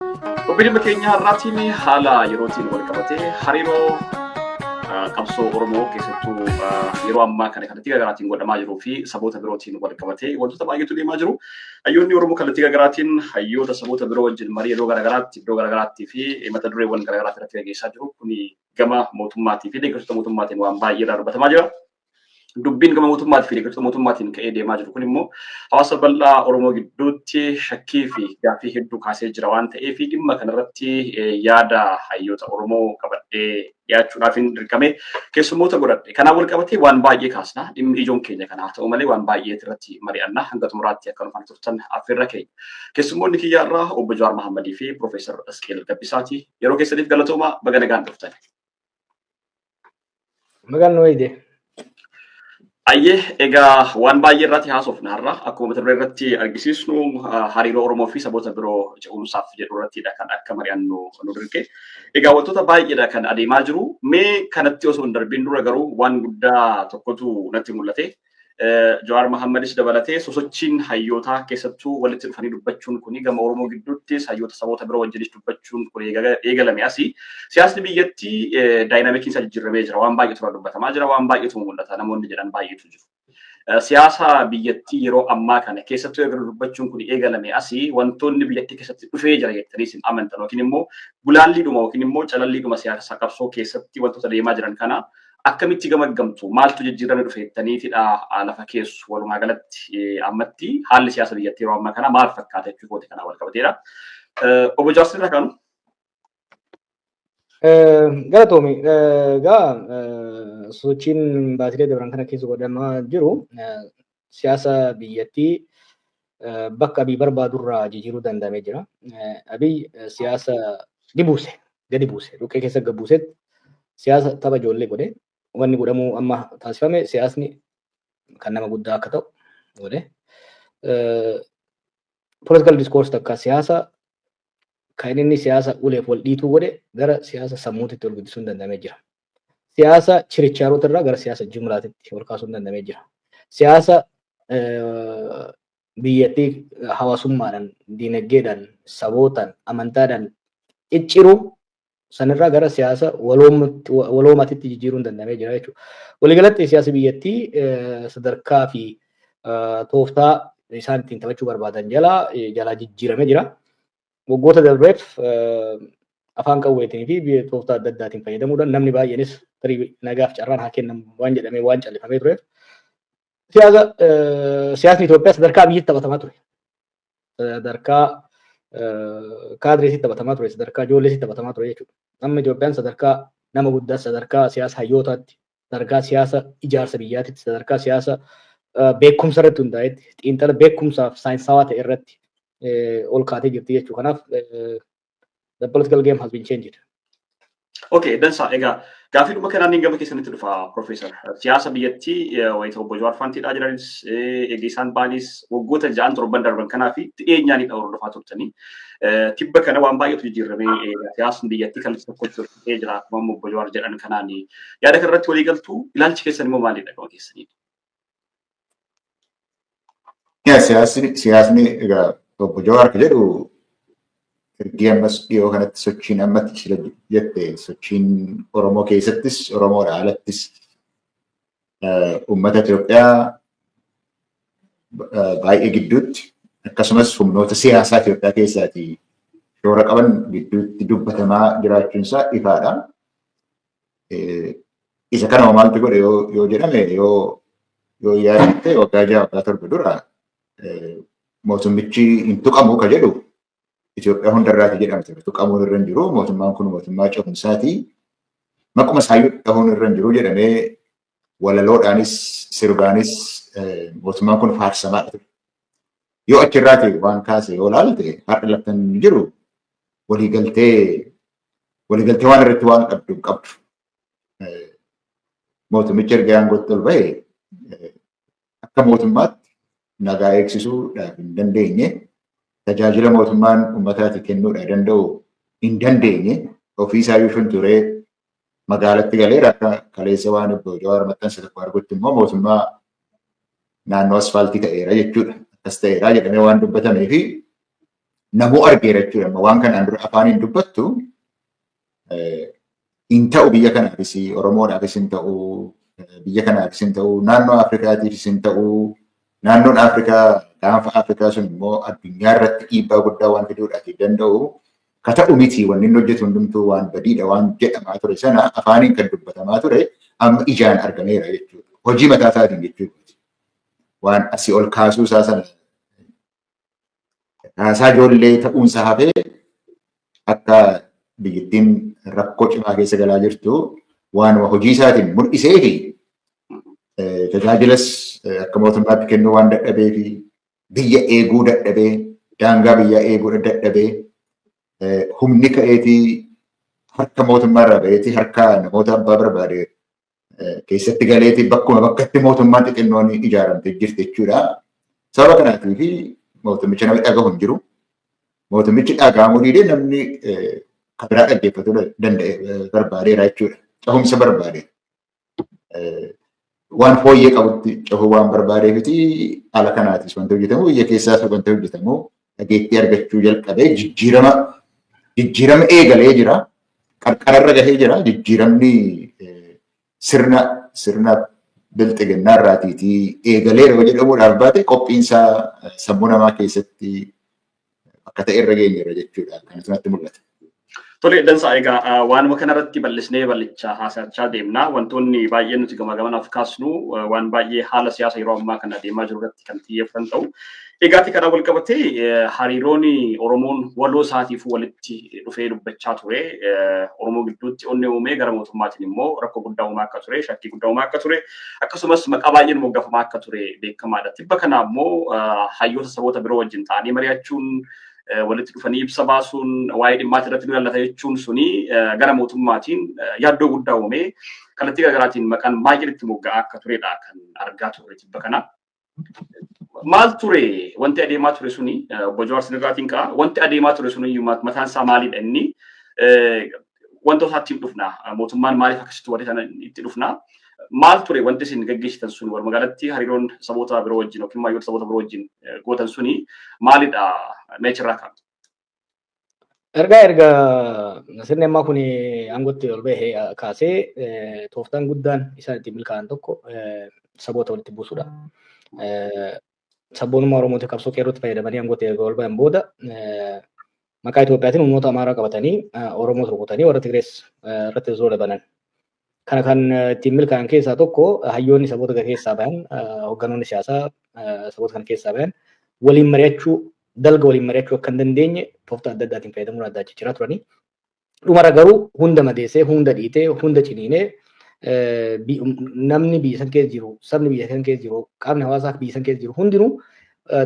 Obbiidimma keenya har'aatiin haala yerootiin wal qabatee hariiroo ah, qabsoo Oromoo keessattuu ah, yeroo ammaa kana kallattii garaagaraatiin godhamaa jiruu fi saboota birootiin wal qabatee wantoota baay'eetu deemaa jiru. Hayyoonni Oromoo kallattii garaagaraatiin hayyoota saboota biroo wajjin marii yeroo garaagaraatti iddoo garaagaraatti fi mata dureewwan garaagaraatti irratti gaggeessaa jiru. Kuni gama mootummaatii fi deeggartoota mootummaatiin waan baay'ee irraa dubbatamaa jira. Dubbiin gama mootummaatii fi deeggartoota mootummaatiin ka'ee deemaa jiru kun immoo hawaasa bal'aa Oromoo gidduutti shakkii fi gaaffii hedduu kaasee jira waan ta'eef dhimma kanarratti yaada hayyoota Oromoo qabadhee dhiyaachuudhaaf hin dirqame keessummoota godhadhe. Kanaan wal qabatee waan baay'ee kaasna. Dhimmi ijoon keenya kana haa ta'u malee waan baay'ee irratti mari'anna. Hanga xumuraatti akka nufaan turtan affeerra keenya. Keessummoonni kiyyaa irraa obbo Jawaar Mahammadii fi Piroofeesar Asqeel Gabbisaati. Yeroo keessaniif galatoomaa baga nagaan dhuftan. Magaan nu wayide. Ayyee egaa waan baay'ee irratti haasofna har'a akkuma mata duree irratti argisiisnu ah, hariiroo Oromoo fi saboota biroo ce'umsaaf jedhu irrattidha kan akka mari'annu nu dirqe. Egaa wantoota baay'eedha kan adeemaa jiru. Mee kanatti osoo hin darbiin dura garuu waan guddaa tokkotu natti mul'ate. Jawaar Mahammadis dabalatee sosochiin hayyootaa keessattuu walitti dhufanii dubbachuun kuni gama Oromoo gidduuttis hayyoota saboota biroo wajjinis dubbachuun kun eegalame asi. Siyaasni biyyattii daayinaamikiin isaa jijjiirramee jira. Waan baay'eetu irraa dubbatamaa jira. Waan baay'eetu mul'ata. Namoonni jedhan baay'eetu jiru. Siyaasa biyyattii yeroo ammaa kana keessattuu erga dubbachuun kun eegalame asi wantoonni biyyattii keessatti dhufee jira jettanii isin amantan yookiin immoo gulaalliidhuma yookiin immoo calalliidhuma siyaasa qabsoo keessatti wantoota deemaa jiran kana akkamitti gamaggamtu maaltu jijjiirame dhufe jettaniitidha lafa keessu walumaa galatti ammatti haalli siyaasa biyyattii yeroo ammaa kana maal fakkaata jechuu kooti kanaa wal qabateedha. Obbo Jaarsin irra kanu. Galatoomi. Egaa sochiin baatilee dabran kana keessa godhamaa jiru siyaasa biyyattii bakka Abiy barbaadurraa jijjiiruu danda'amee jira. Abiy siyaasa ni buuse, gadi buuse, dhukkee keessa gad buusetti siyaasa tapha ijoollee godhe. Wanni godhamuu amma taasifame siyaasni kan nama guddaa akka ta'u godhe. Political discourse takka siyaasa kan inni siyaasa uleef wal dhiituu godhe gara siyaasa sammuutitti ol guddisuun danda'amee jira. Siyaasa chirichaaroota irraa gara siyaasa jumlaatitti ol kaasuun danda'amee jira. Siyaasa biyyattii hawaasummaadhaan, diinagdeedhaan, sabootaan, amantaadhaan cicciruu sanirraa gara siyaasa waloomaatitti jijjiiruun danda'amee jira jechuudha. Waliigalatti siyaasa biyyattii sadarkaa fi tooftaa isaan ittiin taphachuu barbaadan jalaa jalaa jijjiiramee jira. waggoota darbeef afaan qawweetiin fi biyya tooftaa adda addaatiin fayyadamuudhaan namni baay'eenis tarii nagaaf carraan haa kennamu waan jedhamee waan callifamee tureef siyaasa siyaasni Itoophiyaa sadarkaa biyyitti taphatamaa ture. Sadarkaa kaadreesitti taphatamaa ture, sadarkaa ijoolleesitti taphatamaa ture jechuudha. Amma Itoophiyaan sadarkaa nama guddaa sadarkaa siyaasa hayyootaatti sadarkaa siyaasa ijaarsa biyyaatitti sadarkaa siyaasa beekumsa irratti hundaa'etti xiinxala beekumsaaf saayinsaawaa ta'e irratti ol kaatee jirti jechuu kanaaf the political game has been changed. Okay, dansaa egaa gaaffii dhuma kanaan gama keessanitti dhufa Profeesar. Siyaasa biyyattii wayita obbo Jawaar Faantiidhaa jiranis egaa isaan baanis waggoota ja'an torban darban kanaa fi dhiyeenyaanidha hordofaa turtanii. Tibba kana waan baay'eetu jijjiiramee siyaasni biyyattii kallattii tokkotti ta'ee jira akkuma amma obbo Jawaar jedhan kanaan yaada kana irratti walii galtuu ilaalchi keessan immoo maalidha gama keessaniin? Yaa siyaasni siyaasni egaa obbo Jawaar kan jedhu ergii ammas dhiyoo kanatti sochiin ammatti sila jette sochiin Oromoo keessattis Oromoodha alattis uummata Itoophiyaa baay'ee gidduutti akkasumas humnoota siyaasaa Itoophiyaa keessaatii shoora qaban gidduutti dubbatamaa jiraachuun isaa ifaadha. Isa kana maaltu godhe yoo jedhame yoo yoo yaadatte waggaa ja'a waggaa torba dura mootummichi hin tuqamu ka jedhu Itoophiyaa hundarraati jedhamte tuqamuun irra hin jiru. Mootummaan kun mootummaa cehumsaati. Maquma isaayyuu dhahuun irra hin jiru jedhamee walaloodhaanis sirbaanis mootummaan kun faarsamaa ture. Yoo achirraati waan kaase yoo laalte har'a laftan jiru waliigaltee waliigaltee waan irratti waan qabdu hin qabdu. Mootummichi erga aangootti ol ba'e akka mootummaatti nagaa eegsisuudhaaf hin dandeenye, tajaajila mootummaan uummataati kennuudhaa danda'u hin dandeenye, ofiisaayyuu shunturee magaalatti galee akka kaleessa waan obbo Jawaar maxxanse tokko argutti immoo mootummaa naannoo asfaaltii ta'eera jechuudha. Akkas ta'eera jedhamee waan dubbatamee fi namuu argeera jechuudha. Amma waan kanaan dura afaaniin dubbattu hin ta'u biyya kanaafis Oromoodhaafis hin ta'u biyya kanaafis hin ta'u naannoo Afrikaatiifis hin ta'u naannoon Afrikaa gaanfa Afrikaa sun immoo addunyaa irratti dhiibbaa guddaa waan fiduudhaaf danda'u ka ta'u miti wanni inni hojjetu hundumtuu waan badiidha waan jedhamaa ture sana afaaniin kan dubbatamaa ture amma ijaan argameera jechuudha. Hojii mataa isaatiin jechuudha. Waan asii ol kaasuu isaa sana Haasaa ijoollee ta'uunsa hafee akka biyyattiin rakkoo cimaa keessa galaa jirtu waanuma hojii isaatiin mul'isee fi tajaajilas akka mootummaatti kennuu waan dadhabee fi biyya eeguu dadhabee daangaa biyyaa eeguu dadhabee humni ka'eetii harka mootummaa irraa ba'eetii harka namoota abbaa barbaade keessatti galeetii bakkuma bakkatti mootummaan xixinnoon ijaaramte jirti jechuudha. Sababa kanaatii fi mootummicha namni dhagahu hin jiru. Mootummichi dhagahamuu dhiidee namni kan biraa dhaggeeffatuu danda'e barbaadeera jechuudha. Cehumsa barbaade. Waan fooyyee qabutti cehuu waan barbaadeefiti haala kanaatis wanti hojjetamu biyya keessaas wanti hojjetamu dhageettii argachuu jalqabee jijjiirama jijjiirama eegalee jira. Qarqararra gahee jira. Jijjiiramni sirna sirna bilxiginnaa irraatiitii eegaleera yoo jedhamuudhaaf baate qophiinsaa sammuu namaa keessatti akka ta'e irra geenyeera jechuudha. Kan asumatti mul'ata. Tole dansaa egaa waanuma kanarratti bal'isnee bal'ichaa haasa'achaa deemna. Wantoonni baay'ee nuti gamaa gamanaaf kaasnu waan baay'ee haala siyaasa yeroo ammaa kana deemaa jiru irratti kan xiyyeeffatan ta'u. Egaati kanaa wal qabatee hariiroon Oromoon waloo isaatiif walitti dhufee dubbachaa ture. Oromoo gidduutti onnee uumee gara mootummaatiin immoo rakkoo guddaa uumaa akka ture, shakkii guddaa uumaa akka ture, akkasumas maqaa baay'een moggaafamaa akka ture beekamaadha. Tibba kana ammoo hayyoota saboota biroo wajjin ta'anii mari'achuun walitti dhufanii ibsa baasuun waa'ee dhimmaati irratti nu ilaallata jechuun suni gara mootummaatiin yaaddoo guddaa uumee kallattii garaagaraatiin maqaan maayil itti mogga'aa akka turedha kan argaa turre tibba kana. Maal ture wanti adeemaa ture suni obbo Jawaar Sinirraatiin ka'a wanti adeemaa ture suni mataan isaa maalidha inni wanta isaatti dhufna mootummaan maaliif akkasitti warri sana itti dhufna maal ture wanti isin gaggeessitan sun walumaa galatti hariiroon saboota biroo wajjin yookiin maayyoota saboota biroo wajjin gootan suni maalidha meechirraa kan. Ergaa erga sirni ammaa kun aangootti ol bahee kaasee tooftaan guddaan isaan ittiin milkaa'an tokko saboota walitti buusudha. sabboonummaa Oromootiif qabsoo qeerrootti fayyadamanii aangootti erga ol ba'an booda maqaa Itoophiyaatiin humnoota Amaaraa qabatanii Oromoos rukutanii warra Tigrees irratti zoola banan. Kana kan ittiin milkaa'an keessaa tokko hayyoonni saboota gara keessaa bahan hoogganoonni siyaasaa saboota kana keessaa bahan waliin mari'achuu dalga waliin mari'achuu akka hin dandeenye tooftaa adda addaatiin fayyadamuun addaa jijjiiraa turanii Dhumara garuu hunda madeessee, hunda dhiitee, hunda ciniinee namni biyya san keessa jiru, sabni biyya san keessa jiru, qaamni hawaasaa biyya san keessa jiru hundinuu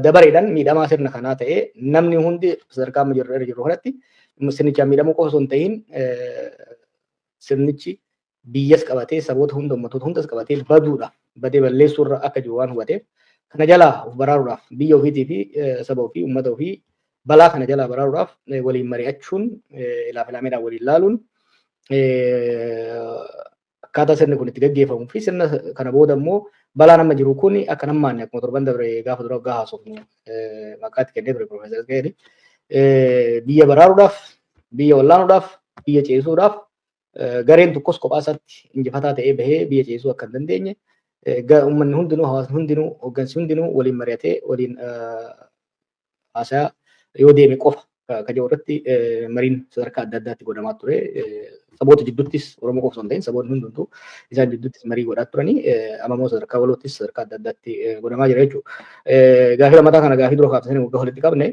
dabareedhaan miidhamaa sirna kanaa ta'ee namni hundi sadarkaa amma jirru irra jirru kanatti sirnichaan miidhamuu qofa osoo hin ta'in sirnichi biyyas qabatee saboota hunda ummatoota hundas qabatee baduudhaaf badee balleessuu irra akka jiru waan hubateef kana jalaa of baraaruudhaaf biyya ofiitii fi saba ofii ummata ofii balaa kana jalaa baraaruudhaaf waliin mari'achuun ilaaf ilaameedhaan waliin laaluun akkaataa sirni kun itti gaggeeffamuu fi sirna kana booda immoo balaan amma jiru kun akka nammaanne akkuma torban dabre gaafa dura waggaa haasofnu maqaa itti kennee ture Piroofeesar Gaheeri biyya baraaruudhaaf biyya wallaanuudhaaf biyya ceesisuudhaaf gareen tokkos kophaa isaatti injifataa ta'ee bahee biyya ceesisuu akka hin dandeenye uummanni hundinuu hawaasni hundinuu hooggansi hundinuu waliin mari'atee waliin haasayaa yoo deeme qofa ka jedhu irratti mariin sadarkaa adda addaatti godhamaa ture. Saboota jidduuttis Oromoo qofa osoo hin ta'in saboonni hundumtuu isaan jidduuttis marii godhaa turanii amma immoo sadarkaa waloottis sadarkaa adda addaatti godhamaa jira jechuudha. Gaafii lammataa kana gaafii dura kaafte sana waggaa walitti qabne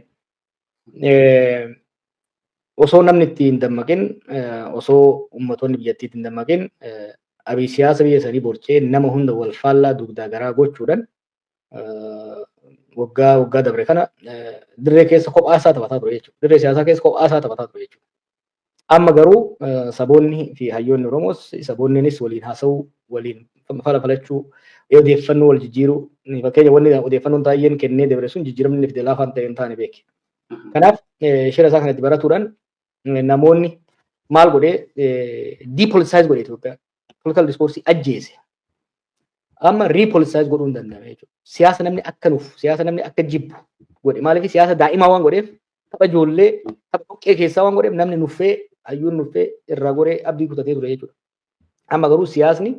osoo namni itti hin dammaqin osoo ummatoonni biyyattii itti hin dammaqin abii siyaasa biyya sanii borcee nama hunda wal faallaa dugdaa garaa gochuudhaan waggaa waggaa dabre kana dirree keessa kophaa isaa taphataa ture jechuudha. Dirree siyaasaa keessa kophaa isaa taphataa ture jechuudha. Amma garuu saboonni fi hayyoonni Oromoos saboonniinis waliin haasa'uu, waliin fala falachuu, odeeffannoo wal jijjiiruu, fakkeenya wanni odeeffannoon taayyeen kennee dabre sun jijjiiramni inni fide laafaa hin ta'e hin taane beeki. Kanaaf shira isaa kana itti baratuudhaan namoonni maal godhee depoliticize godhe Itoophiyaa. Political discourse ajjeese. Amma riipoolisize godhuu hin danda'ame jechuudha. Siyaasa namni akka nuuf, siyaasa namni akka jibbu godhe. Maaliif siyaasa daa'imaa waan godheef tapha ijoollee tapha dhoqqee keessaa waan godheef namni nuffee hayyuun nuffee irraa goree abdii kutatee ture jechuudha. Amma garuu siyaasni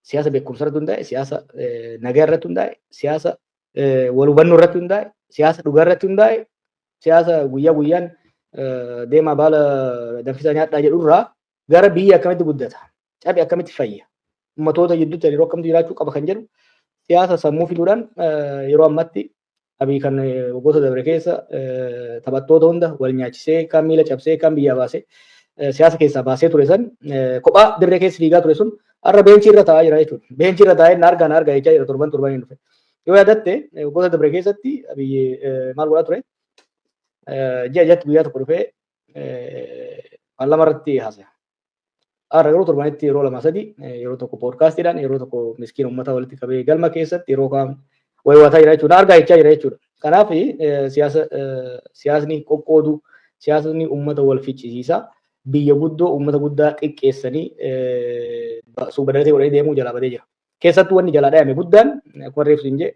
siyaasa beekumsa irratti hundaa'e, siyaasa eh, nagaa irratti hundaa'e, siyaasa eh, wal hubannoo irratti hundaa'e, siyaasa dhugaa irratti hundaa'e, siyaasa guyyaa guyyaan eh, deemaa baala danfisaa nyaadhaa jedhu irraa gara biyya akkamitti guddata? Cabi akkamitti fayya? Ummatoota gidduutti hariiroo akkamitti jiraachuu qaba kan jedhu siyaasa sammuu fiduudhaan yeroo ammatti abii kan waggoota dabre keessa taphattoota hunda wal nyaachisee kan miila cabsee kan biyyaa baasee siyaasa keessaa baasee ture san kophaa dirree keessa fiigaa ture sun har'a beenchii irra taa'aa jira jechuudha. Beenchii irra taa'ee na argaa na argaa jechaa jira torban torban hin dhufe. Yoo yaadatte waggoota dabre keessatti abii maal godhaa ture? Ji'a jatti guyyaa tokko dhufee Paarlaamaa irratti haasaya. Har'a garuu torbanitti yeroo lama sadi yeroo tokko poodkaastiidhaan yeroo tokko miskiin uummata walitti qabee galma keessatti yeroo kaan wayiwaataa jira jechuudha. Argaa jechaa jira jechuudha. Kanaaf siyaasa siyaasni qoqqoodu siyaasni uummata wal ficcisiisa. Biyya guddoo uummata guddaa xiqqeessanii suubadalatee godhanii deemuu jalaa badee jira. Keessattuu wanni jalaa dhayame guddaan akkuma reefsu hin jee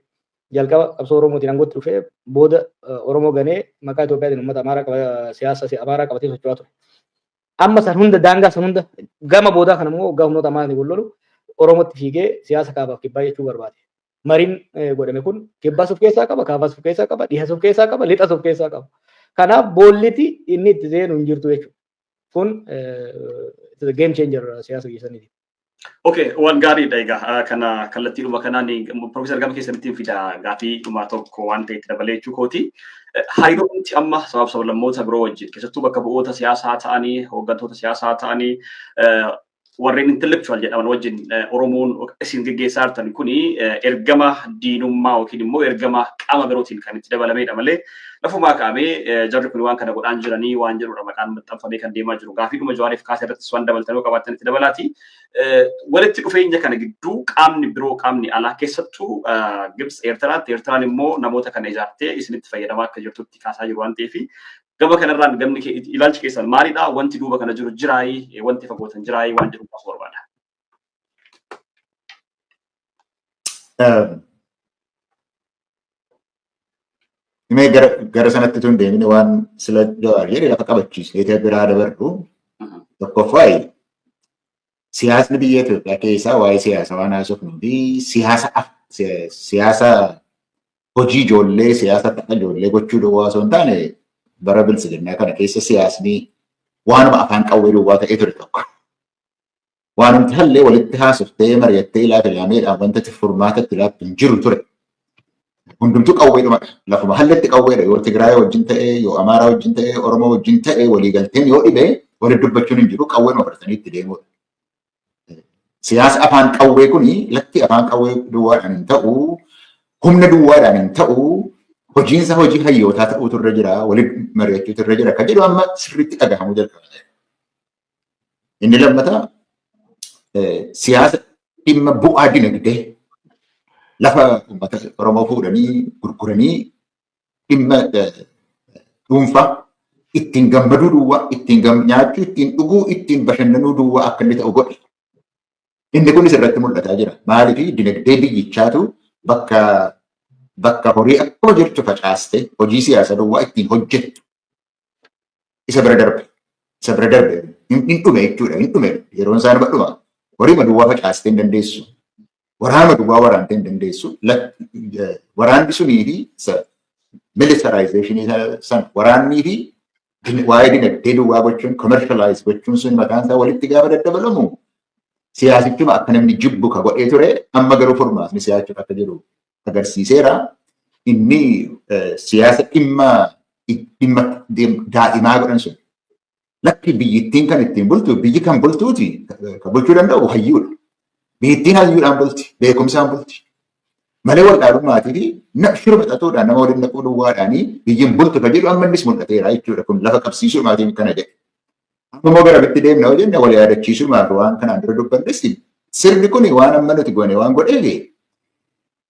jalqaba qabsoo Oromootiin aangootti dhufee booda Oromoo ganee maqaa Itoophiyaatiin uummata Amaaraa siyaasa Amaaraa qabatee socho'aa ture. Amma san hunda daangaa san hunda gama boodaa kana immoo waggaa humnoota Amaaraatiin wal lolu Oromootti fiigee siyaasa kaabaaf kibbaa jechuu barbaade. Mariin godhame kun kibbaas of keessaa qaba, kaabaas of keessaa qaba, dhihas of keessaa qaba, lixas of keessaa qaba. Kanaaf boolliti inni itti seenu hin jirtu jechuudha. Kun game changer siyaasa keessaniiti. Okay, waan gaariidha egaa kana kallattiidhuma kanaan Profeesar Gama keessanitti fida gaafii dhuma tokko waan ta'e itti dabalee jechuu kooti. Hariiroomti amma sabab sablammoota biroo wajjin keessattuu bakka bu'oota siyaasaa ta'anii hooggantoota siyaasaa ta'anii warreen intellectual jedhaman wajjin Oromoon isin geggeessaa jirtan kuni ergama diinummaa yookiin immoo ergama qaama birootiin kan itti dabalamedha malee Lafumaa kaa'amee jarri kun waan kana godhaan jiranii waan jedhudha maqaan maxxanfamee kan deemaa jiru. Gaafiidhuma Jawaariif kaase irrattis waan dabaltan yoo qabaatan itti dabalaati. Walitti dhufeenya kana gidduu qaamni biroo qaamni alaa keessattuu Gibs Eertiraatti Eertiraan immoo namoota kana ijaartee isinitti fayyadamaa akka jirtutti kaasaa jiru waan ta'eef gama kanarraan gamni ilaalchi keessan maalidha wanti duuba kana jiru jiraayii wanti fagootan jiraayii waan jedhu kaasuu barbaada. Mee gara gara sanatti tun deemine waan sila jawaar jedhe lafa qabachiisne ta'e biraa dabarru tokkoffaa siyaasni biyya Itoophiyaa keessaa waa'ee siyaasa waan haasofnuu fi siyaasa af- si- siyaasa hojii ijoollee siyaasa tapha ijoollee gochuu duwwaa osoo hin taane bara bilisiginnaa kana keessa siyaasni waanuma afaan qawwee duwwaa ta'ee ture tokko. Waanumti hallee walitti haasoftee mari'attee ilaalte laameedhaan wanta itti furmaata itti laattu hin jiru ture. Hundumtuu qawweedhumadha. Lafuma halletti qawweedha. Yoo Tigraay wajjin ta'e, yoo Amaaraa wajjin ta'e, Oromoo wajjin ta'e waliigalteen yoo dhibe walitti dubbachuun hin jiru qawweedhuma fudhatanii itti deemuudha. Siyaasa afaan qawwee kuni lakki afaan qawwee duwwaadhaan hin ta'u, humna duwwaadhaan hin ta'u, hojiinsa hojii hayyootaa ta'uutu irra jira, waliin mari'achuutu irra jira. Kan jedhu amma sirriitti dhagahamuu jalqabeera. Inni lammataa siyaasa dhimma bu'aa dinagdee lafa uummata Oromoo fuudhanii gurguranii dhimma dhuunfaa ittiin gammaduu duwwaa, ittiin nyaachuu, ittiin dhuguu, ittiin bashannanuu duwwaa akka inni ta'u godhe. Inni kunis irratti mul'ataa jira. Maaliif dinagdee biyyichaatu bakka bakka horii akkuma jirtu facaastee hojii siyaasa duwwaa ittiin hojjettu isa bira darbe isa bira darbe hin hin dhume jechuudha hin dhume yeroon isaa nama dhuma horii maduwwaa facaastee hin dandeessu waraana maduwwaa waraantee hin dandeessu lak- eh, waraanni sunii fi sa- militarizeeshinii sana sana waraannii fi din- waa'ee dinagdee duwwaa gochuun commercialize gochuun sun mataan isaa walitti gaafa daddabalamu siyaasichuma akka namni jibbu ka godhee ture amma garuu furmaatni siyaachuuf akka jiru agarsiiseera. Inni siyaasa dhimma dhimma daa'imaa godhan sun. Lakki biyyittiin kan ittiin bultu biyyi kan bultuuti kan bulchuu danda'u hayyuudha. Biyyittiin hayyuudhaan bulti beekumsaan bulti. Malee wal dhaalummaatii fi shira maxxatuudhaan nama waliin naquu duwwaadhaanii biyyiin bultu kan jedhu amma innis mul'ateera jechuudha. Kun lafa qabsiisuudhaatiin kana jedhe. Amma immoo gara bitti deemna yoo jenne wal yaadachiisumaaf waan kanaan dura dubbannes sirni kun waan amma nuti goone waan godheef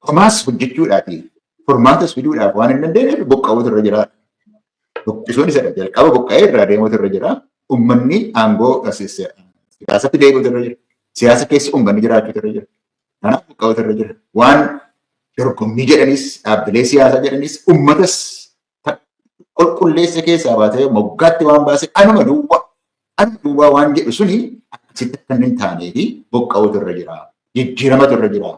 homaas hojjechuudhaati furmaatas fiduudhaaf waan hin dandeenyeef buqqa'uutu irra jira. Buqqisuun isa jalqaba buqqa'ee irraa deemuutu irra jira. Uummanni aangoo siyaasatti deebi'uutu irra jira. Siyaasa keessa uummanni jiraachuutu irra jira. Kanaaf buqqa'uutu irra jira. Waan dorgommii jedhanis dhaabbilee siyaasaa jedhanis uummatas qulqulleessa keessaa baatee moggaatti waan baase anuma duwwaa anuma duwwaa waan jedhu suni akkasitti akka hin taanee fi boqqa'uutu irra jira. Jijjiiramatu irra jira.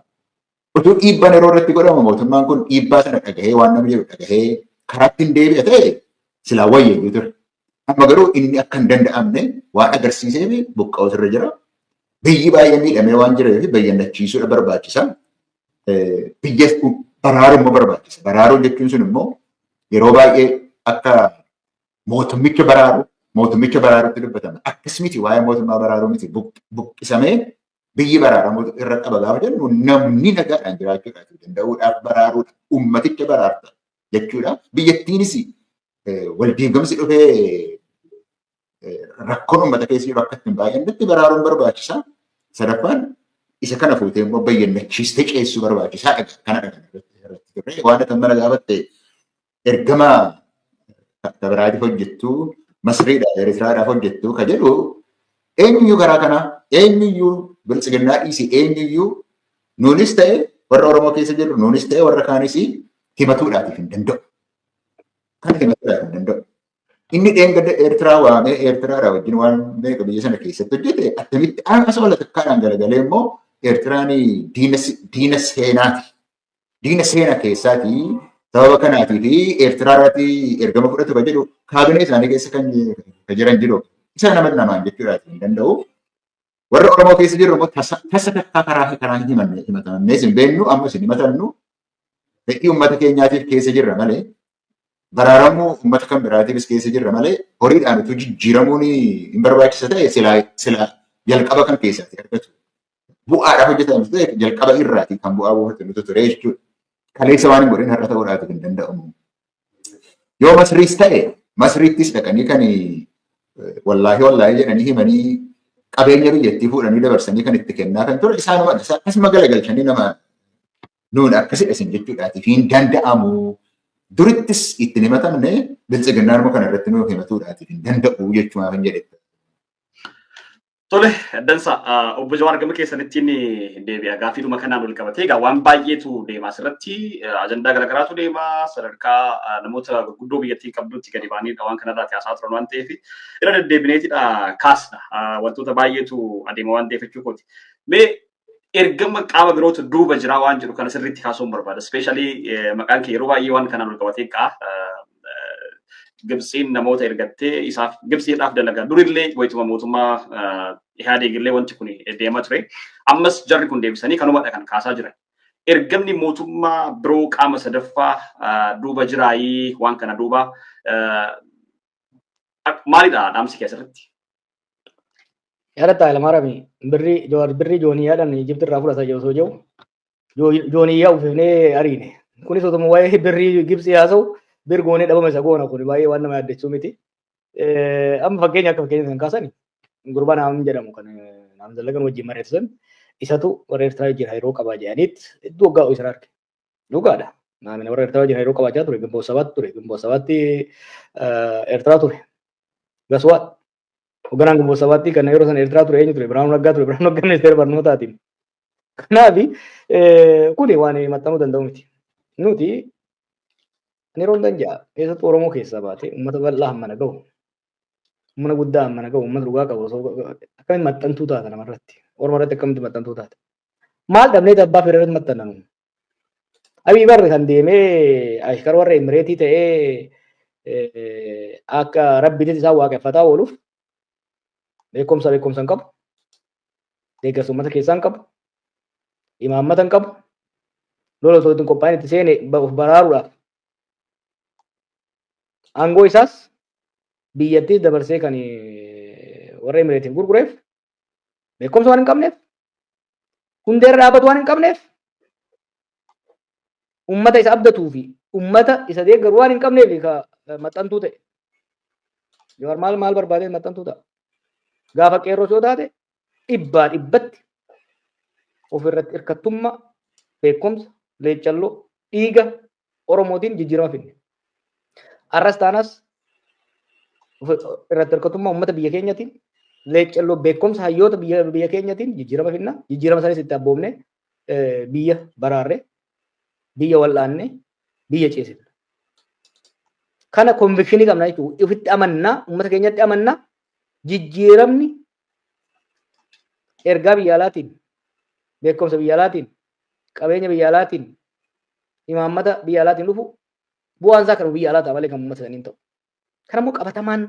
Utuu dhiibbaan yeroo irratti godhamu mootummaan kun dhiibbaa sana dhagahee waan namni jedhu dhagahee karaatti hin deebi'a ta'e silaa wayyeeyyuu ture. Amma garuu inni akka hin danda'amne waan agarsiiseef buqqa'uutu irra jira. Biyyi baay'ee miidhamee waan jireef bayyannachiisuudha barbaachisa. Biyya baraaruun immoo barbaachisa. Baraaruu jechuun sun immoo yeroo baay'ee akka mootummicha baraaru mootummicha baraaruutti dubbatama. Akkas miti waa'ee mootummaa baraaruu miti buqqisamee biyyi baraaramu irra qaba gaafa jennu namni nagaadhaan jiraachuudhaaf danda'uudhaaf baraaruudha. Uummaticha baraarta. jechuudha. Biyyattiinis waldiigamsi dhufee rakkoon uummata keessa jiru akka ittiin baay'annetti baraaruun barbaachisa. Sadaffaan isa kana fuutee immoo bayyannachiistee ceessuu barbaachisaa dhaga kana dhaga irratti turre waan akka mana gaafatte ergama kabiraatiif hojjettu masriidha eritiraadhaaf hojjettu ka jedhu eenyuyyuu karaa kana eenyuyyuu biltsiginnaa dhiisi eenyuyyuu nuunis ta'e warra oromoo keessa jirru nuunis ta'e warra kaanis himatuudhaatiif hin danda'u. Kan himatuudhaaf hin danda'u. Inni dheengadda Eertiraa waamee Eertiraadhaa wajjin waan beeku biyya sana keessatti hojjete akkamitti haasa wal takkaadhaan garagalee immoo Eertiraan diina seenaati. Diina seena keessaati sababa kanaatii fi Eertiraa irratti ergama fudhatu kan jedhu kaabinee isaanii keessa kan jiran jiru. Isa nama namaan jechuudhaaf hin danda'u. Warra Oromoo keessa jirru immoo tasa tasa takkaa karaa fi karaa hin himanne himatamannee isin beeknu amma isin himatannu fedhii uummata keenyaatiif keessa jirra malee baraaramuu uummata kan biraatiifis keessa jirra malee horiidhaan utuu jijjiiramuun hin barbaachisa ta'e silaa silaa jalqaba kan keessaati argatu. Bu'aadhaaf hojjetamu ta'e jalqaba irraati kan bu'aa buufatu nutu ture jechuudha. Kaleessa waan hin godhin har'a ta'uudhaaf hin danda'amu. Yoo Masriis ta'e Masriittis dhaqanii kan wallaahi wallaahi jedhanii himanii qabeenya biyyattii fuudhanii dabarsanii kan itti kennaa kan ture isaanuma akkasuma galagalchanii nama nuun akkasidha isin jechuudhaatiif hin danda'amu. Durittis itti himatamne biltsiginnaanuma kana irratti nuuf himatuudhaatiif hin danda'u jechuudha kan jedhe. Tole, dansa obbo Jawaar gama keessanitti inni deebi'a. Gaaffiidhuma kanaan wal qabatee egaa waan baay'eetu deema asirratti ajandaa garaagaraatu deema sadarkaa namoota gurguddoo biyyattiin qabdutti gadi baaniidha waan kanarraati haasaa turan waan ta'eef irra deddeebineetidha kaasna wantoota baay'eetu adeema waan ta'eef jechuu kooti. Mee ergama qaama birootu duuba jira waan jedhu kana sirriitti kaasuun barbaada. Ispeeshaalii maqaan kee yeroo baay'ee waan kanaan ol qabatee ka'a. Gibtsiin namoota ergattee isaaf Gibtsiidhaaf dalagaa durillee wayituma mootummaa Ihaadeegillee wanti kun deemaa ture. Ammas jarri kun deebisanii kanumadha kan kaasaa jiran. Ergamni mootummaa biroo qaama sadaffaa duuba jiraayii waan kana duuba Maalidha dhaamsi kee asirratti? Yaadatta Hayilamaarami birrii Jawaar birrii jooniyyaadhaan Ijipti irraa fudhata osoo jiru jooniyyaa uffifnee ariine. Kunis otuma waa'ee birrii Gibsii haasa'u bir goonee dhabama isa goona kun baay'ee waan nama yaaddessuu miti. Amma fakkeenya akka fakkeenya kan kaasan gurbaa naam jedhamu kan naam zallagan wajjin mari'atu sun isatu warra Eertiraa wajjin hariiroo qabaa jedhaniit hedduu waggaa isa arge. Dhugaadha. Naamina warra Eertiraa wajjin hariiroo qabaachaa ture. Gimboo sabaatti ture. Gimboo sabaatti Eertiraa ture. Gaswaat. Hogganaan gimboo sabaatti kan yeroo sana Eertiraa ture eenyu ture? Birhaanuu Naggaa ture. Birhaanuu Naggaa ministeera barnootaatiin. Kanaaf kuni waan maxxanuu danda'u miti. Nuti ani yeroo hundan ja'a keessattuu Oromoo keessaa baatee uummata bal'aa hammana gahu humna guddaa hammana gahu uummata dhugaa qabu osoo akkamitti maxxantuu taata namarratti Oromoo irratti akkamitti maxxantuu taata Maal dhabnee abbaa fedhe irratti maxxannamu? Abiy barri kan deemee ashkar warra Imireetii ta'ee akka rabbiitis isaan waaqeffataa ooluuf beekumsa beekumsa hin qabu. Deeggarsa uummata keessaa hin qabu. Imaammata hin qabu. Lola osoo ittiin qophaa'in itti seene of baraaruudhaaf. Aangoo isaas biyyattiis dabarsee kan warra Imireetiif gurgureef beekumsa waan hin qabneef hundee irra dhaabatu waan hin qabneef ummata isa abdatuu fi ummata isa deeggaru waan hin qabneef ka maxxantuu ta'e. Jawaar maal maal barbaadee maxxantuu ta'a. Gaafa qeerroos yoo taate dhibbaa dhibbatti ofirratti hirkattummaa beekumsa leeccalloo dhiiga Oromootiin jijjiirama fidne. Arras taanas irratti hirkatummaa uummata biyya keenyatiin leeccelloo beekumsa hayyoota biyya keenyatiin jijjiirama fidna. Jijjiirama sanis itti abboomne biyya baraarre biyya wal'aanne biyya ceesifna. Kana konvikshinii qabna jechuudha. Ofitti amannaa uummata keenyatti amannaa jijjiiramni ergaa biyya alaatiin beekumsa biyya alaatiin qabeenya biyya alaatiin imaammata biyya alaatiin dhufu bu'aan isaa kan biyya alaa ta'a malee kan uummata saniin ta'u. Kan ammoo qabatamaan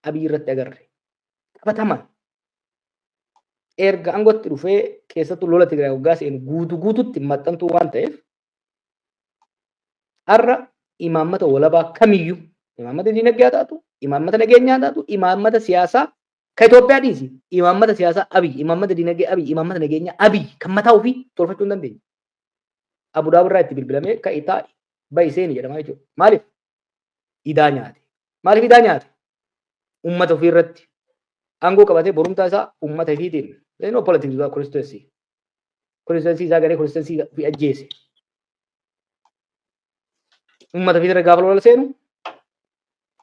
abiy irratti agarre. Qabatamaan erga aangootti dhufee keessattuu lola Tigraay waggaa seenu guutuu guututti maxxantuu waan ta'eef har'a imaammata walabaa kamiyyuu imaammata dinagdee haa taatu, imaammata nageenyaa haa taatu, imaammata siyaasaa Ka Itoophiyaa dhiisi imaammata siyaasaa Abiy, imaammata dinagdee Abiy, imaammata nageenyaa Abiy kan mataa ofii tolfachuu hin dandeenye. Abu Dhabi irraa itti bilbilamee ka'i taa'i ba'i seeni jedhamaa jechuudha. Maaliif? Idaa nyaate. Maaliif idaa nyaate? Uummata ofii irratti aangoo qabatee borumtaa isaa uummata ifiitiin. There is no politics without constituency. Constituency isaa garee constituency ofii ajjeese. Uummata ofii irra gaafa lola seenu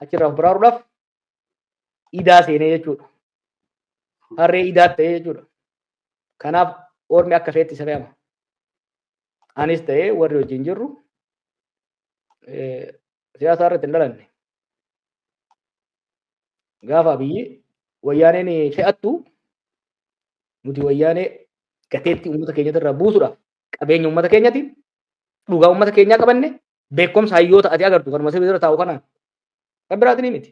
achirraa of baraaruudhaaf idaa seenee jechuudha. Harree idaa ta'ee jechuudha. Kanaaf ormi akka feetti isa fe'ama. Anis ta'ee warri wajjin jirru siyaasa irratti hin dhalanne. Gaafa biyyi wayyaaneen fe'attu nuti wayyaanee gateetti uummata keenyatti irraa buusuudhaaf qabeenya uummata keenyati dhugaa uummata keenyaa qabanne Beekumsa hayyoota ati agartu kanuma si bira taa'u kanaan. Kan biraati ni miti.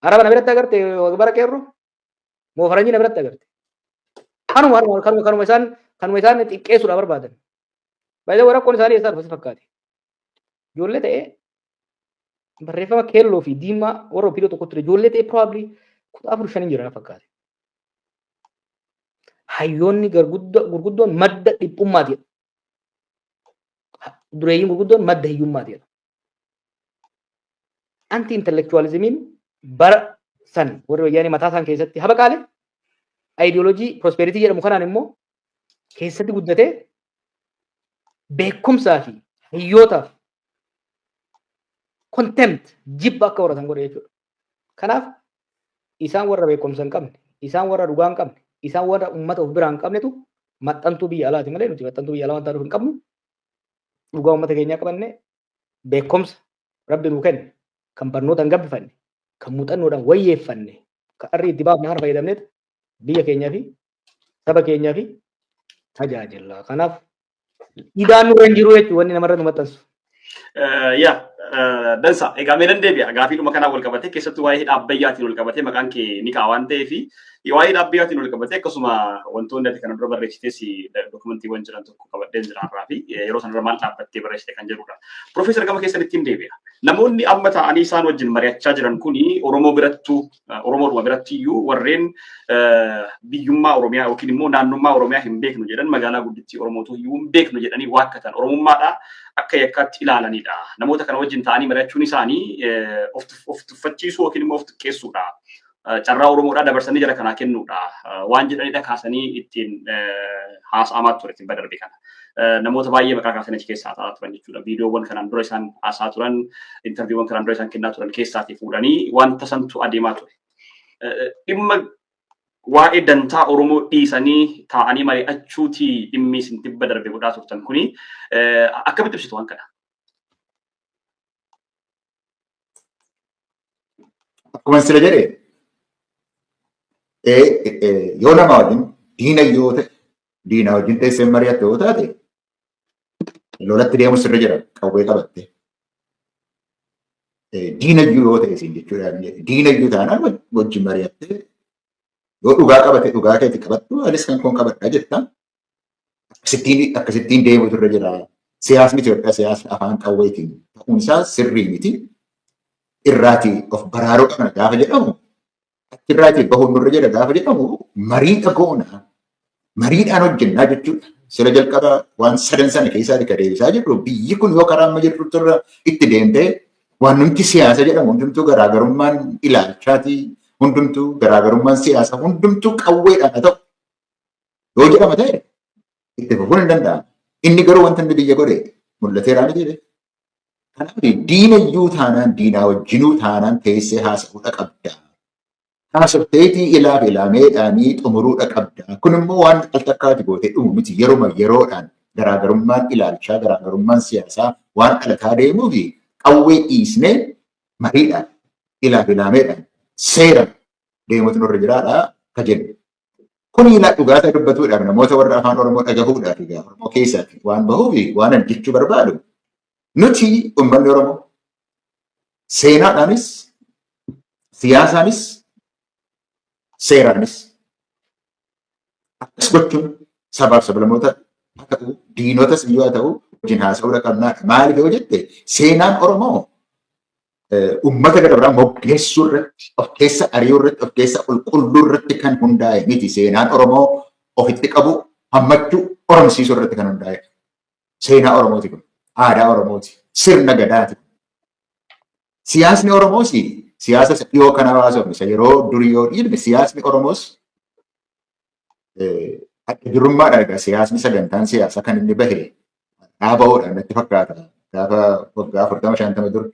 Araba na biratti agarte bara qeerru moo faranjii na biratti agarte. Kanuma harma kanuma kanuma isaan kanuma isaan xiqqeessuudha barbaadan. Baay'ee warra kun isaanii eessaa dhufa si fakkaate. Ijoollee ta'ee barreeffama keelloo fi diimaa warra ofiidoo tokko ture ijoollee ta'ee probably kutaa afur shaniin jira na fakkaate. Hayyoonni garguddo- gurguddoon madda dhiphummaati. dureeyyiin gurguddoon madda hiyyummaati jedha. Anti intelektuwaalizimiin bara san warri wayyaanee mataa isaan keessatti habaqaale ayidiyoolojii prospeeritii jedhamu kanaan immoo keessatti guddatee beekumsaa fi hiyyootaaf contempt jibba akka horatan godhe jechuudha. Kanaaf isaan warra beekumsa hin qabne, isaan warra dhugaa hin qabne, isaan warra uummata of biraa hin qabnetu maxxantuu biyya alaati malee nuti maxxantuu biyya alaa waan taanuuf hin qabnu. Dhugaa uummata keenyaa qabanne beekumsa rabbi nuu kenne kan barnootaan gabbifanne kan muuxannoodhaan wayyeeffanne kan arrii itti baafne kana fayyadamneet biyya keenyaa fi saba keenyaa fi tajaajila. Kanaaf idaan nurra hin jiru jechuun wanni namarra nu maxxansu. Yaa dansa egaa mee nan deebi'a gaafiidhuma kanaan wal qabatee keessattuu waa'ee hidha abbayyaatiin wal qabatee maqaan kee ni ka'a waan ta'eef waa'ee hidha abbayyaatiin wal qabatee akkasuma wantoonni ati kana dura barreessitees dokumantiiwwan jiran tokko qabadheen jira irraa fi yeroo sanarra maal dhaabbattee barreessite kan jedhudha. Piroofeesar gama keessan ittiin deebi'a. Namoonni amma ta'anii isaan wajjin mari'achaa jiran kuni Oromoo birattuu Oromoodhuma biratti iyyuu warreen biyyummaa Oromiyaa yookiin immoo naannummaa Oromiyaa hin beeknu jedhan magaalaa guddittii Oromootu iyyuu hin beeknu jedhanii waakkatan Oromummaadha akka yakkaatti ilaalanidha. Namoota kana wajjin ta'anii mari'achuun isaanii of tuffachiisuu yookiin immoo of xiqqeessuudha. Carraa Oromoodhaa dabarsanii jara kanaa kennuudha. Waan jedhanidha kaasanii ittiin haasa'amaa ture tibba darbe kana. namoota baay'ee maqaa kaasan achi keessaa ta'aa turan jechuudha. Viidiyoowwan kanaan dura isaan haasaa turan, intarviiwwan kanaan dura isaan kennaa turan keessaatii fuudhanii wanta santu adeemaa ture. Dhimma waa'ee dantaa Oromoo dhiisanii taa'anii mari'achuutii dhimmi isin tibba darbe godhaa turtan kuni akkamitti ibsitu waan kana? Akkuma sila jedhe yoo nama wajjin diina yoo ta'e diina wajjin teessee mari'atte yoo taate lolatti deemu sirra jira qawwee qabatte. Diina iyyuu yoo ta'e isin jechuudha diina iyyuu taanaan wajjin mari'atte yoo dhugaa qabate dhugaa keeti qabattu anis kan koon qabadha jettaan. akkasittiin akkasittiin deemutu irra jira. Siyaasni Itoophiyaa siyaasni afaan qawweetiin ta'uun isaa sirrii miti. Irraatii of baraaruu qabna gaafa jedhamu achirraatii bahuun nurra jira gaafa jedhamu mariidha goona. Mariidhaan hojjennaa jechuudha. Sila jalqaba waan sadan sana keessaa ka deebisaa jirru biyyi kun yoo karaa amma jirtu irra itti deemtee waan nuti siyaasa jedhamu hundumtuu garaagarummaan ilaalchaatii hundumtuu garaagarummaan siyaasa hundumtuu qawweedhaan haa ta'u yoo jedhama ta'e itti fufuun hin danda'amu. Inni garuu wanta inni biyya godhe mul'ateeraa miti jedhe. Kanaaf diina iyyuu taanaan diinaa wajjinuu taanaan teessee haasa'uudha qabda. Haasofteetii ilaaf ilaameedhaanii xumuruudha qabda. Kun immoo waan al takkaati gootee dhumu miti yeruma yeroodhaan garaagarummaan ilaalchaa garaagarummaan siyaasaa waan dhalataa deemuu fi qawwee dhiisnee mariidhaan ilaaf ilaameedhaan seeraan deemuutu nurra jiraadha ka jennu. Kun ilaa dhugaa isaa dubbatuudhaaf namoota warra afaan Oromoo dhagahuudhaaf egaa Oromoo keessaatti waan bahuuf waan ani jechuu barbaadu nuti uummanni Oromoo seenaadhaanis siyaasaanis seeraanis akkas gochuun sabaaf sablamoota haa ta'u diinotas iyyuu haa ta'u wajjin haasa'uudha qabnaadha. Maaliif yoo jette seenaan Oromoo ummata gara biraa moggeessuu irratti of keessa ari'uu irratti of keessa qulqulluu irratti kan hundaa'e miti seenaan Oromoo ofitti qabu hammachuu oromsiisuu irratti kan hundaa'e seenaa Oromooti kun aadaa Oromooti sirna gadaati siyaasni Oromoos siyaasa dhiyoo kana hawaasofne isa yeroo durii yoo dhiibne siyaasni Oromoos adda durummaadha egaa siyaasni sagantaan siyaasaa kan inni bahe dhaabahoodha natti fakkaata gaafa waggaa afurtama shantama dura.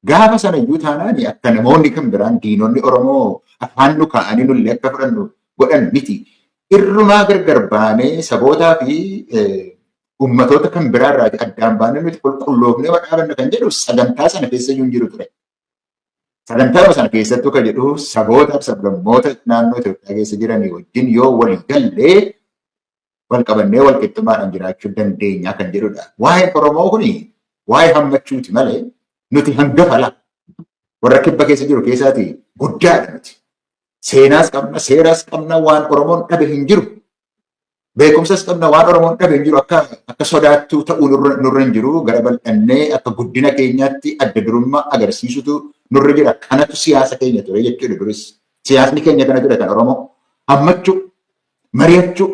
Gaafa sana iyyuu taanaan akka namoonni kan biraan diinonni Oromoo afaan nu kaa'anii nullee akka fudhannu godhan miti. Irrumaa gargar baanee sabootaa fi uummatoota kan biraa irraa addaan baanee nuti qulqulloofnee dhaabanna kan jedhu sagantaa sana keessa iyyuu hin jiru ture. Sagantaa sana keessattuu kan jedhu saboota sablammoota naannoo Itoophiyaa keessa jiranii wajjin yoo walii galle wal qabannee wal qixxummaadhaan jiraachuu dandeenya kan jedhudha. Waa'een Oromoo kun waa'ee hammachuuti malee nuti hangafa laa warra kibba keessa jiru keessaati guddaadha nuti. Seenaas qabna, seeraas qabna, waan Oromoon dhabe hin jiru. Beekumsas qabna waan Oromoon dhabe hin jiru akka akka sodaattuu ta'uu nurra nurra hin jiru gara bal'annee akka guddina keenyaatti adda durummaa agarsiisutu nurra jira kanatu siyaasa keenya ture jechuudha duris siyaasni keenya kana ture kan Oromoo hammachuu mari'achuu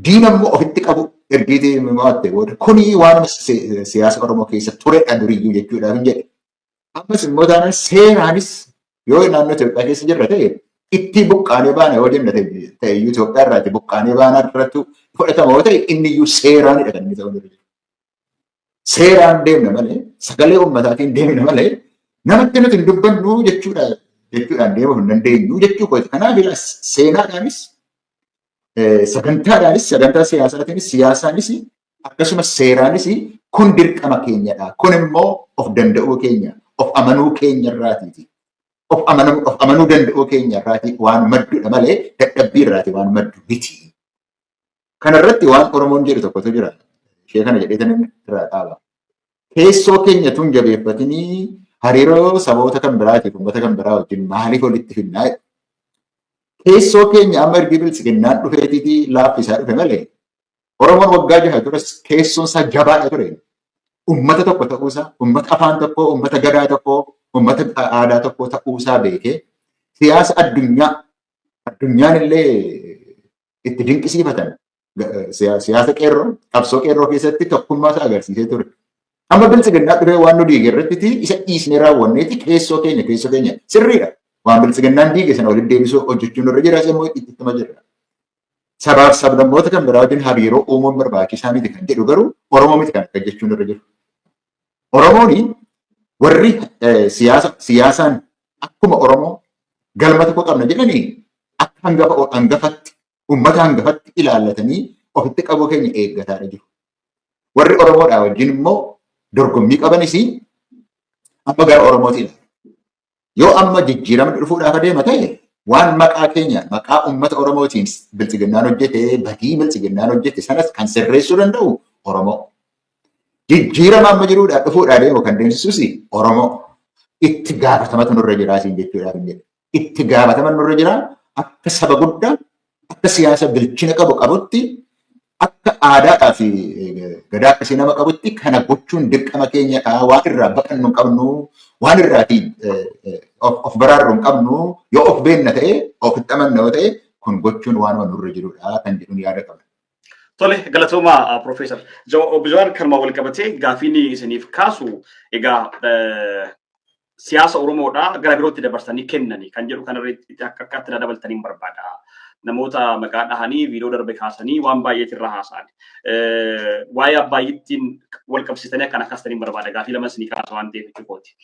diina immoo ofitti qabu ergiitii mo'atte booda kuni waanuma si- siyaasa Oromoo keessa turedha duriyyuu jechuudhaaf hin jedhe Ammas immoo taanaan seeraanis yoo naannoo Itoophiyaa keessa jirra ta'e ittii buqqaanee baana yoo jenna ta'e ta'e iyyuu Itoophiyaa irraa itti buqqaanee baanaa irrattu fudhatama yoo ta'e inni iyyuu seeraanidha kan inni ta'uu danda'u. Seeraan deemna malee sagalee ummataatiin deemna malee namatti nuti hin dubbannu jechuudha jechuudhaan deemuu hin dandeenyu jechuu kooti. Kanaaf ilaa seenaadhaanis eh, sagantaadhaanis sagantaa siyaasaatiinis siyaasaanis akkasumas seeraanis kun dirqama keenyadha. Kun immoo of danda'uu keenya, of amanuu keenya irraatiiti. Of amanam- of amanuu danda'uu keenya irraati waan maddudha malee dadhabbii irraati waan maddu miti. Kana irratti waan Oromoon jedhu tokkotu jira. Ishee kana jedhee tan irraa dhaaba. Keessoo keenya tun jabeeffatinii hariiroo saboota kan biraatiif uummata kan biraa wajjin maaliif walitti finnaa? Keessoo keenya amma ergi bilisiginnaan dhufeetiitii laaffisaa dhufe malee Oromoon waggaa jaha duras keessoon isaa jabaadha ture. Uummata tokko ta'uusaa, uummata afaan tokkoo, uummata gadaa tokkoo, uummata aadaa tokkoo ta'uusaa beekee siyaasa addunyaa addunyaan illee itti dinqisiifatan siyaasa qeerroo qabsoo qeerroo keessatti tokkummaa isaa agarsiisee ture. Amma biltsiginnaa dhufee waan nu diige irratti isa dhiisnee raawwanneeti keessoo keenya keessoo keenya sirriidha. Waan biltsiginnaan diige sana walitti deebisuu hojjechuun irra jira immoo itti ittuma jirra. sabaaf sablammoota kan biraa wajjin hariiroo uumuun barbaachisaa miti kan jedhu garuu Oromoo miti kan akka jechuun irra jiru. Oromooni warri siyaasa siyaasaan akkuma Oromoo galma tokko qabna jedhanii akka hangafa hangafatti uummata hangafatti ilaallatanii ofitti qabuu keenya eeggataadha jiru. Warri Oromoodhaa wajjin immoo dorgommii qabanis amma gara Oromootiin Yoo amma jijjiiramni dhufuudhaaf adeema ta'e waan maqaa keenya maqaa uummata Oromootiin bilxiginnaan hojjete badii bilxiginnaan hojjete sanas kan sirreessuu danda'u Oromoo. Jijjiirama amma jiruudhaa dhufuudhaa deemu kan deemsisus Oromoo. Itti gaafatamatu nurra jiraa siin jechuudhaaf hin jedhu. Itti gaafatama nurra jiraa akka saba guddaa akka siyaasa bilchina qabu qabutti akka aadaadhaa fi gadaa akkasii nama qabutti kana gochuun dirqama keenya dha. Waan irraa baqannu hin qabnu, waan irraati of of baraarru hin qabnu, yoo of beenna ta'e, of hin amanna yoo ta'e, kun gochuun waanuma nurra jirudha kan jedhuun yaada qabna. Tole galatooma Profeesar. Obbo Jawaar kanuma wal qabatee gaafiin isiniif kaasu egaa siyaasa Oromoodhaa gara birootti dabarsanii kennani kan jedhu kanarratti akka akkaatti na dabaltaniin barbaada. Namoota maqaa dhahanii viidiyoo darbe kaasanii waan baay'eetti irraa haasa'an. Waa'ee abbaayyiittiin wal qabsiisanii akkan akkaastaniin barbaada. Gaafii lama isinii kaasa waan ta'eef jechuukooti.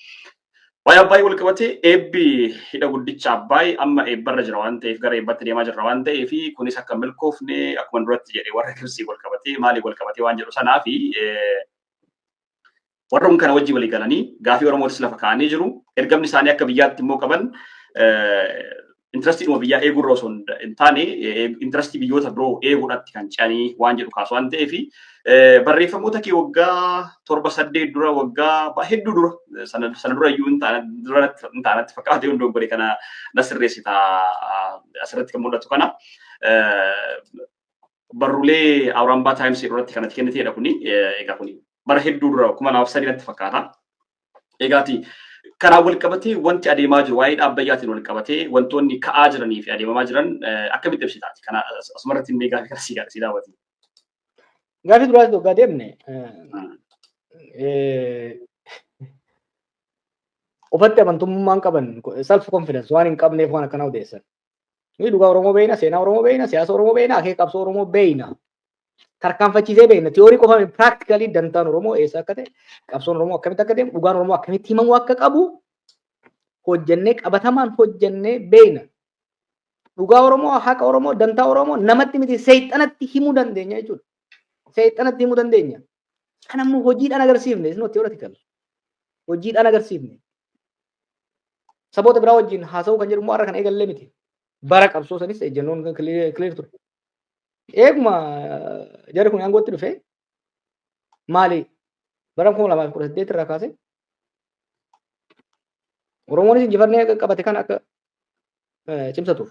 Waa'ee abbaayyi wal qabatee eebbi hidha guddicha abbaayyi amma eebbarra jira waan ta'eef gara eebbatti deemaa jirra waan ta'eef kunis akka milkoofne akkuma duratti jedhe warra kibsii wal qabatee maalii wal qabatee waan jedhu sanaa fi Warra kun kana wajjin walii galanii gaafii Oromootis lafa kaa'anii jiru. Ergamni isaanii akka biyyaatti immoo qaban intirestiidhuma biyyaa eeguurra osoo hin taane intirestii biyyoota biroo eeguudhaatti kan ce'anii waan jedhu kaasu waan ta'eef barreeffamoota kee waggaa torba saddeet dura waggaa hedduu dura sana dura iyyuu hin taanatti fakkaate yoo dogoggore kana na sirreessita asirratti kan mul'atu kana barruulee Awurambaa Taayims irratti kanatti kenniteedha kuni egaa kuni bara hedduu dura kuma lamaaf sadii natti fakkaata. Egaati kanaan wal qabatee wanti adeemaa jiru waa'ee dhaabbayyaatiin wal qabatee wantoonni ka'aa jiranii fi adeemamaa jiran akkamitti ibsitaati? Kana asumarratti illee gaaffii kana sii sii daawwati. Gaaffii duraas dhugaa deemne. Ufatti amantummaan qaban self confidence waan hin qabneef waan akkanaa odeessan. Nuyi dhugaa Oromoo beekna, seenaa Oromoo beekna, siyaasa Oromoo beekna, akeeka qabsoo Oromoo beekna. Tarkaanfachiisee beekna. Tiyoorii qofa miti. Praaktikalii dantaan Oromoo eessa akka ta'e, qabsoon Oromoo akkamitti akka deemu, dhugaan Oromoo akkamitti himamuu akka qabu hojjennee qabatamaan hojjennee beekna. Dhugaa Oromoo, haqa Oromoo, dantaa Oromoo namatti miti seexanatti himuu dandeenya jechuudha. seexanatti himuu dandeenya. Kan ammoo hojiidhaan agarsiifne is not theoretical. Hojiidhaan agarsiifne. Saboota biraa wajjin haasa'uu kan jedhu immoo har'a kan eegallee miti. Bara qabsoo sanis ejjennoon kan clear ture. Eeguma jarri kun aangootti dhufe maali bara kuma lamaa fi kudha saddeet irraa kaasee Oromoonis injifannee qabate kan akka cimsatuuf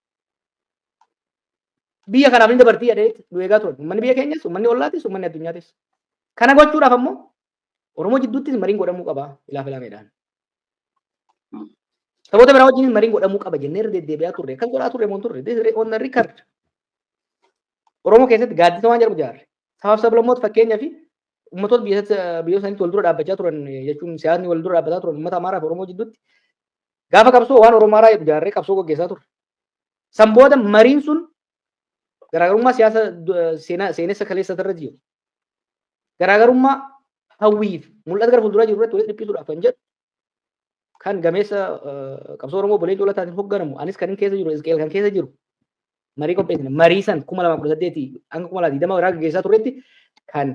Biyya kanaaf ni dabartii jedhee nu eegaa turan. Uummanni biyya keenyas, uummanni ollaatis, uummanni addunyaatis. Kana gochuudhaaf ammoo Oromoo jidduuttis mariin godhamuu qaba ilaa filaameedhaan. Saboota biraa wajjinis mariin godhamuu qaba jennee irra deddeebi'aa turre. Akkas godhaa turre moo hin turre? This is on the record. Oromoo keessatti gaaddisa waan jedhamu jaarre. Sabaaf sablammoota fakkeenyaa fi ummatoota biyyoota isaaniitti wal dura dhaabbachaa turan jechuun siyaasni wal dura dhaabbataa turan ummata Amaaraa fi Oromoo jidduutti Gaafa qabsoo waan Oromaaraa jedhu jaarree qabsoo gaggeessaa turre. San booda mariin sun garaagarummaa siyaasa seenaa seenessa kaleessa irra jiru. Garaagarummaa hawwiif mul'ata gara fuulduraa jiru irratti walitti dhiphisuudhaaf kan jedhu kan gameessa qabsoo Oromoo Bolee Cuulataatiin hoogganamu anis kan keessa jiru Isqeel kan keessa jiru marii qopheessine marii san kuma lama kudha saddeetii hanga kuma lama digdama irraa gaggeessaa turretti kan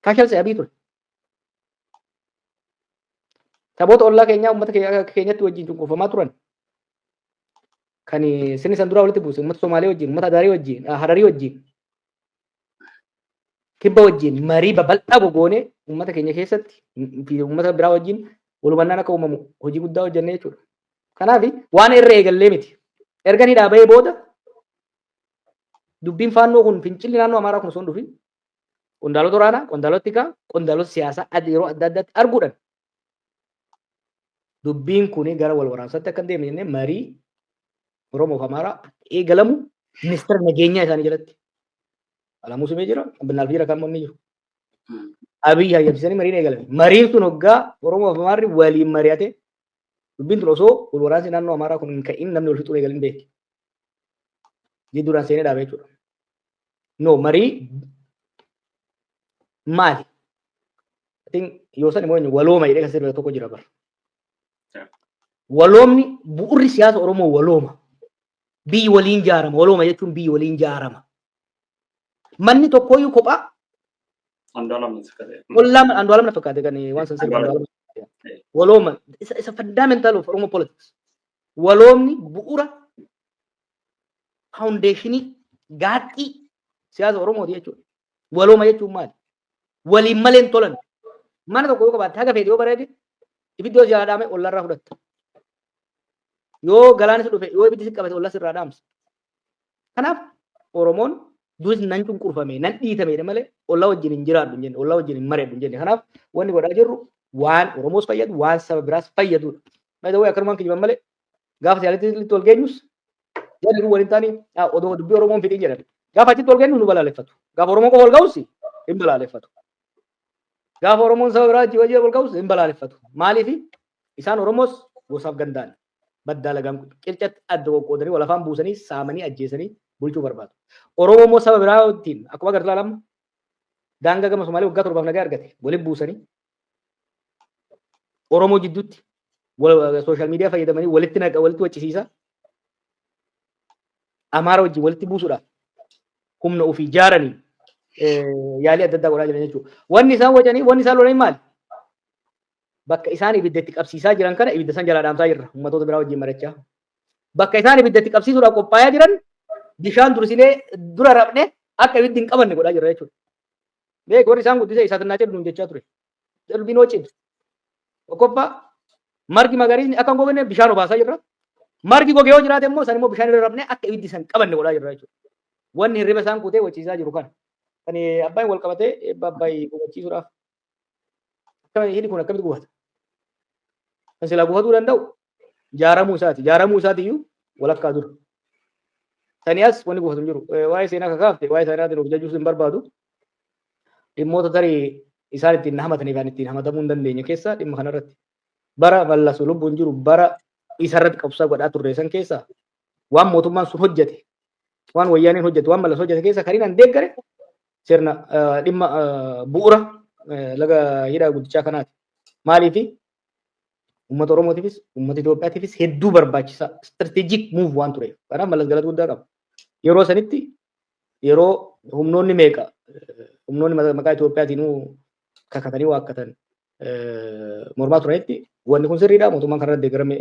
fashilse abii ture. Saboota ollaa keenyaa uummata keenyatti wajjin cunqurfamaa turan kan sirni san duraa walitti buuse uummata Somaalee wajjin, uummata Adaarii wajjin, Hararii wajjin, kibba wajjin marii babal'aa gogoonee uummata keenya keessatti fi uummata biraa wajjin walhubannaan akka uumamu hojii guddaa hojjennee jechuudha. Kanaaf waan irra eegallee miti. Erga ni dhaabee booda dubbiin faannoo kun fincilli naannoo Amaaraa kun osoo hin dhufin Qondaalota waraanaa, qondaalota tikaa, qondaalota siyaasaa ad- yeroo adda addaatti arguudhaan dubbiin kun gara wal waraansaatti akka hin deemne jennee marii Oromoo fi Amaaraa akka eegalamu ministeera nageenyaa isaanii jalatti Alamuu Simee jira, Abbinaaf jira kan inni jiru. Abiy hayyamsiisanii mariin eegalame. Mariin sun hoggaa Oromoo fi Amaarri waliin mari'ate dubbiin tun osoo wal waraansi naannoo Amaaraa kun hin ka'in namni wal fixuu eegalin beekti. Ni duraan seenee dhaabee jechuudha. No marii maali? I think yoo san immoo eenyu walooma jedhee kan sirba tokko jira bara. Yeah. Waloomni bu'urri siyaasa Oromoo walooma. Biyyi waliin ijaarama. Walooma jechuun biyyi waliin ijaarama. Manni tokkooyyuu kophaa Andu'aalam Takkaalee. Wallaan Andu'aalam na fakkaate kan waan san sirba Andu'aalam. Andu'aalam. Walooma isa isa fundamental of Oromo politics. Waloomni bu'ura faawundeeshinii gaaxxii siyaasa Oromooti jechuudha. Walooma jechuun maali? Waliin malee hin tolan. Mana tokko yoo qabaatte haga feete yoo bareede ibiddoo si haadhaame ollarraa fudhatta. Yoo galaanni si dhufe yoo ibiddi si qabate ollas irraa dhaamsa. Kanaaf Oromoon duris nan cunqurfame nan dhiitameedha malee ollaa wajjin hin jiraadhu hin jenne ollaa wajjin hin mari'adhu hin jenne kanaaf wanni godhaa jirru waan Oromoos fayyadu waan saba biraas fayyadudha. Maayita wayii akkanumaan kijiban malee gaafa siyaalitti litti wal geenyus jarri kun waliin taanii "Ah, odoo dubbii Oromoon fidhin jedhan gaafa achitti wal geenyu nu balaaleffatu gaafa Oromoon qofa wal ga'us hin balaaleffatu gaafa Oromoon saba biraa wajjin wajjin wal ga'us hin balaaleffatu maaliif isaan Oromoos gosaaf gandaan Badda alagaan kun qircatti adda qoqqoodanii wal afaan buusanii saamanii ajjeesanii bulchuu barbaadu. Oromoo immoo saba biraa ittiin akkuma agartu ilaala amma daangaa gama Somaalee waggaa torbaaf nagaa argate waliin buusanii Oromoo jidduutti sooshaal miidiyaa fayyadamanii walitti naqa walitti waccisiisa. Amaara wajjin walitti buusuudhaaf humna ofii ijaaranii yaalii adda addaa godhaa jiran jechuudha. Wanni isaan wacanii wanni isaan lolanii maali? Bakka isaan ibidda itti qabsiisaa jiran kana ibidda san jalaa dhaamsaa jirra ummatoota biraa wajjin marachaa. Bakka isaan ibidda itti qabsiisuudhaaf qophaa'aa jiran bishaan dursinee dura rabne akka ibiddi hin qabanne godhaa jirra jechuudha. Beek warri isaan guddisee isaatti naa jedhu nuun jechaa ture. Jedhu binoo cimse. Tokkoffaa margi magariisni akka hin gogne bishaan obaasaa jirra. Margi goge yoo jiraate immoo san immoo bishaan irra rabne akka ibiddi san qabanne godhaa jirra jechuudha. Wanni hirriba isaan kutee wachiisaa jiru kana. Kan abbaan wal qabatee eebba abbaayii hubachiisuudhaaf Akkana hidhi kun akkamitti gufata? Kan silaa gufatuu danda'u jaaramuu isaati. Jaaramuu isaati iyyuu walakkaa dura. Sani as wanni gufatu hin jiru. Eh, Waa'ee seenaa kakaafte waa'ee seenaatiin of jajjuus hin barbaadu. Dhimmoota tarii isaan ittiin na hamatanii fi ittiin hamatamuu hin dandeenye keessaa dhimma kanarratti bara mallasu lubbuun jiru bara isarratti qabsaa godhaa turre san keessaa waan mootummaan sun hojjete waan wayyaaneen hojjete waan malas hojjete keessa kan inni deeggare sirna dhimma bu'uura laga hidhaa guddichaa kanaati. Maaliif uummata Oromootiifis uummata Itoophiyaatiifis hedduu barbaachisaa strategic move waan tureef kanaaf malas galata guddaa qaba. Yeroo sanitti yeroo humnoonni meeqa humnoonni maqaa Itoophiyaatiin kakatanii waakkatan mormaa turanitti wanni kun sirriidha mootummaan kanarra deeggarame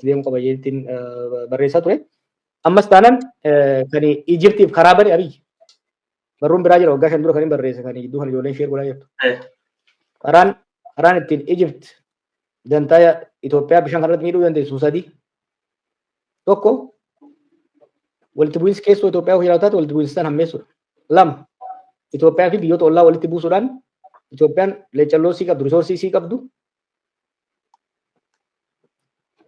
deemuu qaba jechuun barreessaa ture. Ammas taanaan kan Ijiptiif karaa bane Abiyyi. Barruun biraa jira waggaa shan dura kan hin barreesse kan gidduu kan ijoolleen ishee godhaa jirtu. Karaan karaan ittiin Ijipt dantaa Itoophiyaa bishaan kanarratti miidhuu dandeessu sadii. Tokko walitti bu'iinsi keessoo Itoophiyaa hojii raawwataatti walitti bu'iinsa sana hammeessuudha. Lama Itoophiyaa fi biyyoota ollaa walitti buusuudhaan Itoophiyaan leecalloo sii qabdu, risoorsii sii qabdu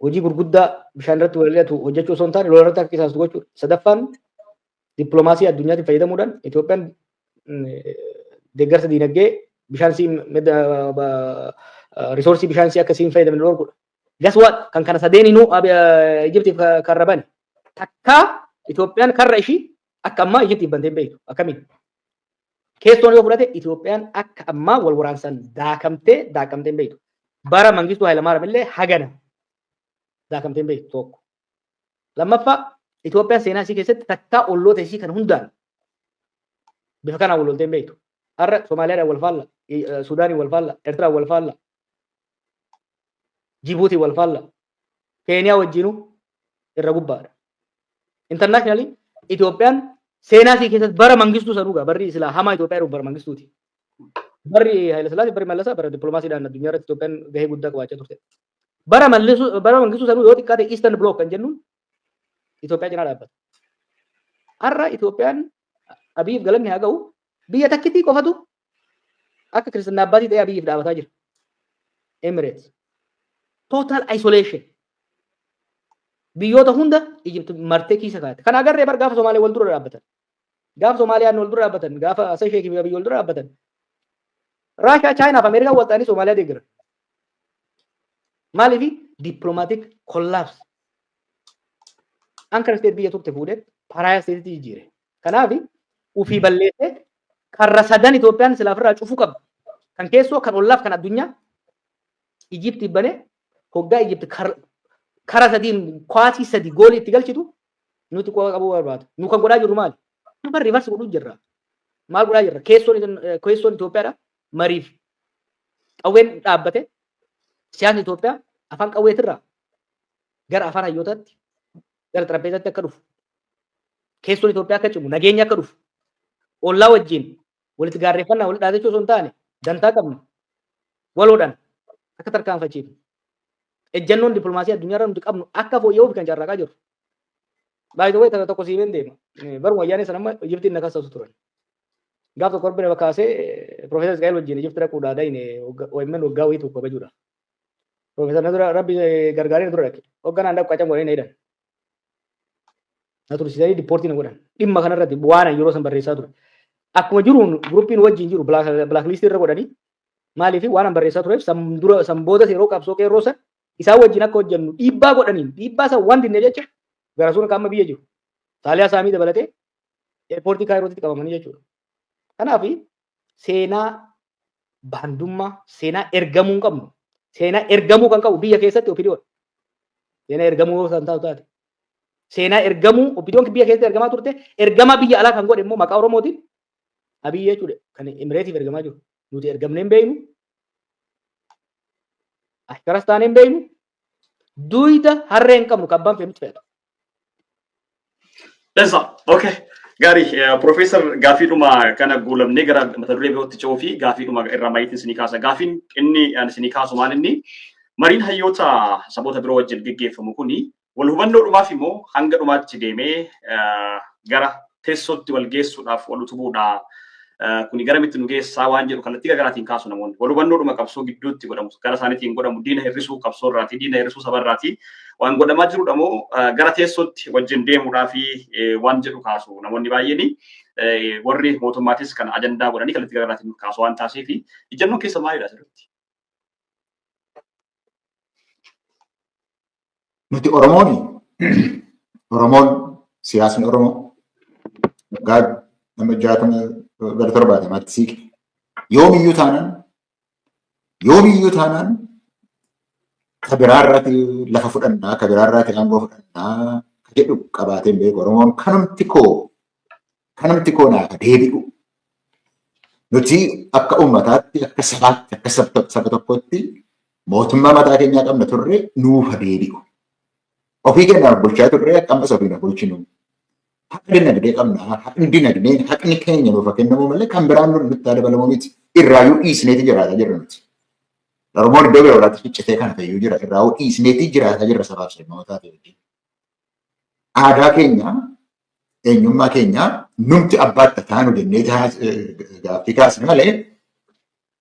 hojii gurguddaa bishaan irratti wal'atu hojjechuu osoo hin taane lola irratti akka qisaastu gochuudha. Sadaffaan dippiloomaasii addunyaatiin fayyadamuudhaan Itoophiyaan deeggarsa diinagdee bishaan sii risoorsii bishaan sii akka siin fayyadamne dhorkudha. Guess what? Kan kana sadeeninuu ab- eh, Ijiptiif ka- karra bane. Takkaa Itoophiyaan karra ishii akka ammaa Ijiptiif bantee hin beektu. Akkamiin? Keessoon yoo fudhate Itoophiyaan akka ammaa wal waraansan daakamtee daakamtee hin beektu. Bara Mangistuu Hayilamaariyaam illee hagana daakamtee hin beektu tokko. Lammaffaa Itoophiyaan seenaa ishii keessatti takkaa olloota ishii kan hundaan bifa kanaan wal loltee hin beektu. Har'a Somaaliyaadhaan wal faalla, I- eh, Sudaaniin wal faalla, Ertiraan wal faalla, Jibuutiin wal faalla. Keeniyaa wajjinuu irra gubbaadha. Internationally Itoophiyaan seenaa isii keessatti bara mangistuu isa dhugaa barri silaa hamaa Itoophiyaa dhufu bara mangistuuti. Barri Hayilasillaasee barri Mallasaa bara dippiloomaasiidhaan addunyaa irratti Itoophiyaan gahee guddaa qabaachaa turte. Bara mallisuu bara mangistuu sanuu yoo xiqqaate Eastern Block kan jennuun Itoophiyaa cinaa dhaabbata. Har'a Itoophiyaan Abiyiif galanni haa ga'u biyya takkitii qofatu Akka Kiristinnaa Abbaatii ta'ee Abiyyiif dhaabataa jira. Emirates. Total isolation. Biyyoota hunda Egypt martee kiisa kaa'ate. Kana agarree bar gaafa Somaalee wal dura dhaabbatan. Gaafa Somaaliyaan wal dura dhaabbatan. Gaafa Hassan Sheikh fi Abiyyi wal dura dhaabbatan. Raashaa, Chaayinaa fi Ameerikaan wal ta'anii Somaaliyaa deeggaran. Maaliifi? Diplomatic collapse. Anchor state biyya turte fuudhee paraayaa stateetti jijjiire. Kanaaf ufii balleessee karra sadan Itoophiyaan silaa ofirraa cufuu qabdi. Kan keessoo, kan ollaaf, kan addunyaa Ijipti banee hoggaa Ijipti kara sadiin kwaasii sadi goolii itti galchitu nuti qofa qabuu barbaada. Nu kan godhaa jirru maali? Amma rivarsi godhuu jirra. Maal godhaa jirra? Keessoon Itoophiyaadha. Mariif qawween dhaabbate siyaasni Itoophiyaa afaan qawweetirraa gara afaan hayyootaatti gara xarapheezaatti akka dhufu keessoon Itoophiyaa akka cimu nageenyi akka dhufu ollaa wajjin walitti gaarreeffannaa walitti dhaadachuu osoo hin taane dantaa qabnu waloodhaan akka tarkaanfachiifnu ejjannoon dippilmaasii addunyaa irra nuti qabnu akka fooyya'uuf kan carraaqaa jiru. Baay'ee tokko tokko siimeen deema. Baruma wayyaanee sana amma Ijiptiin na kaasatu turan. Gaaf tokko Rabbi nama kaasee Piroofeesar Isqaa'el wajjin Ijipti dhaquudhaa dayne OMN waggaa wayii tokko kabajuudha. Profeesar na dura rabbi gargaaree na dura dhaqe. Hogganaan dhaqu qacam godhanii na hidhan. Na tursiisanii dippoortii na godhan. Dhimma kanarratti waan ani yeroo san barreessaa ture. Akkuma jiruun guruppiin wajjin jiru bilaakliistii irra godhanii maaliif waan an barreessaa tureef san dura san boodas yeroo qabsoo qeerroo san isaa wajjin akka hojjennu dhiibbaa godhaniin dhiibbaa san waan dinne jecha gara suura qaama biyya jiru. Saaliyaa saamii dabalatee eerpoortii kaayirootti qabamanii jechuudha. Kanaaf seenaa baandummaa seenaa ergamuu hin qabnu. Seenaa ergamuu kan qabu biyya keessatti opidiyoodha. Seenaa ergamuu yoo isaan taatu taate. Seenaa ergamuu opidiyoon biyya keessatti ergamaa turte ergamaa biyya alaa kan godhe immoo maqaa Oromootiin Abiyyi jechuudha kan Emireetiif ergamaa jiru. Nuti ergamnee hin beeknu. Ashkaras taanee hin beeknu. Duyda harree hin qabnu kan banfe miti feetu. Dansa. Okay. Gaarii. Profeesar gaafiidhuma kana guulamnee gara mata duree birootti ce'uu fi gaafiidhuma irraa maayyiitiin isinii kaasa. Gaafiin inni ani isinii kaasu maal inni mariin hayyoota saboota biroo wajjin geggeeffamu kuni wal hubannoodhumaaf immoo hanga dhumaatti deemee gara teessootti wal geessuudhaaf wal utubuudha. Kuni garamitti nu geessaa waan jedhu kallattii garaagaraatiin kaasu namoonni. Wal hubannoodhuma qabsoo gidduutti godhamu gara isaaniitiin godhamu diina hir'isuu qabsoo irraati diina hir'isuu saba irraati waan godhamaa jirudha moo gara teessootti wajjin deemuudhaa fi waan jedhu kaasu namoonni baay'eeni. Warri mootummaatis kan ajandaa godhanii kallattii garaagaraatiin kaasu waan taasiif ijjannoon keessa maalidha asirratti? Nuti Oromoon Oromoon siyaasni Oromoo waggaa nama jaatama gara torbaatamaatti siiqe. Yoomiyyuu taanaan yoomiyyuu taanaan ka biraarraati lafa fudhannaa ka biraarraati aangoo fudhannaa ka jedhu qabaateen beeku Oromoon kanumti koo Kanumti koo naaf deebi'u. Nuti akka uummataatti, akka sabaatti, akka sab- saba tokkootti mootummaa mataa keenyaa qabna turre nuuf deebi'u. Ofii keenyaaf bulchaa turre akka ammas ofiin of bulchinu. Haqa dinagdee qabna. Haqni dinagdee haqni keenya nuuf haa kennamu malee kan biraan nu nutti haa dabalamu miti. Irraayyuu dhiisneeti jiraataa jirra nuti. Oromoon iddoo bira biraatti ciccitee kan fayyuu jira. Irraayuu dhiisneeti jiraataa jirra sabaaf sabootaa fi wajjin. Aadaa keenya eenyummaa keenya numti abbaadha taanu jennee gaaffii kaasne malee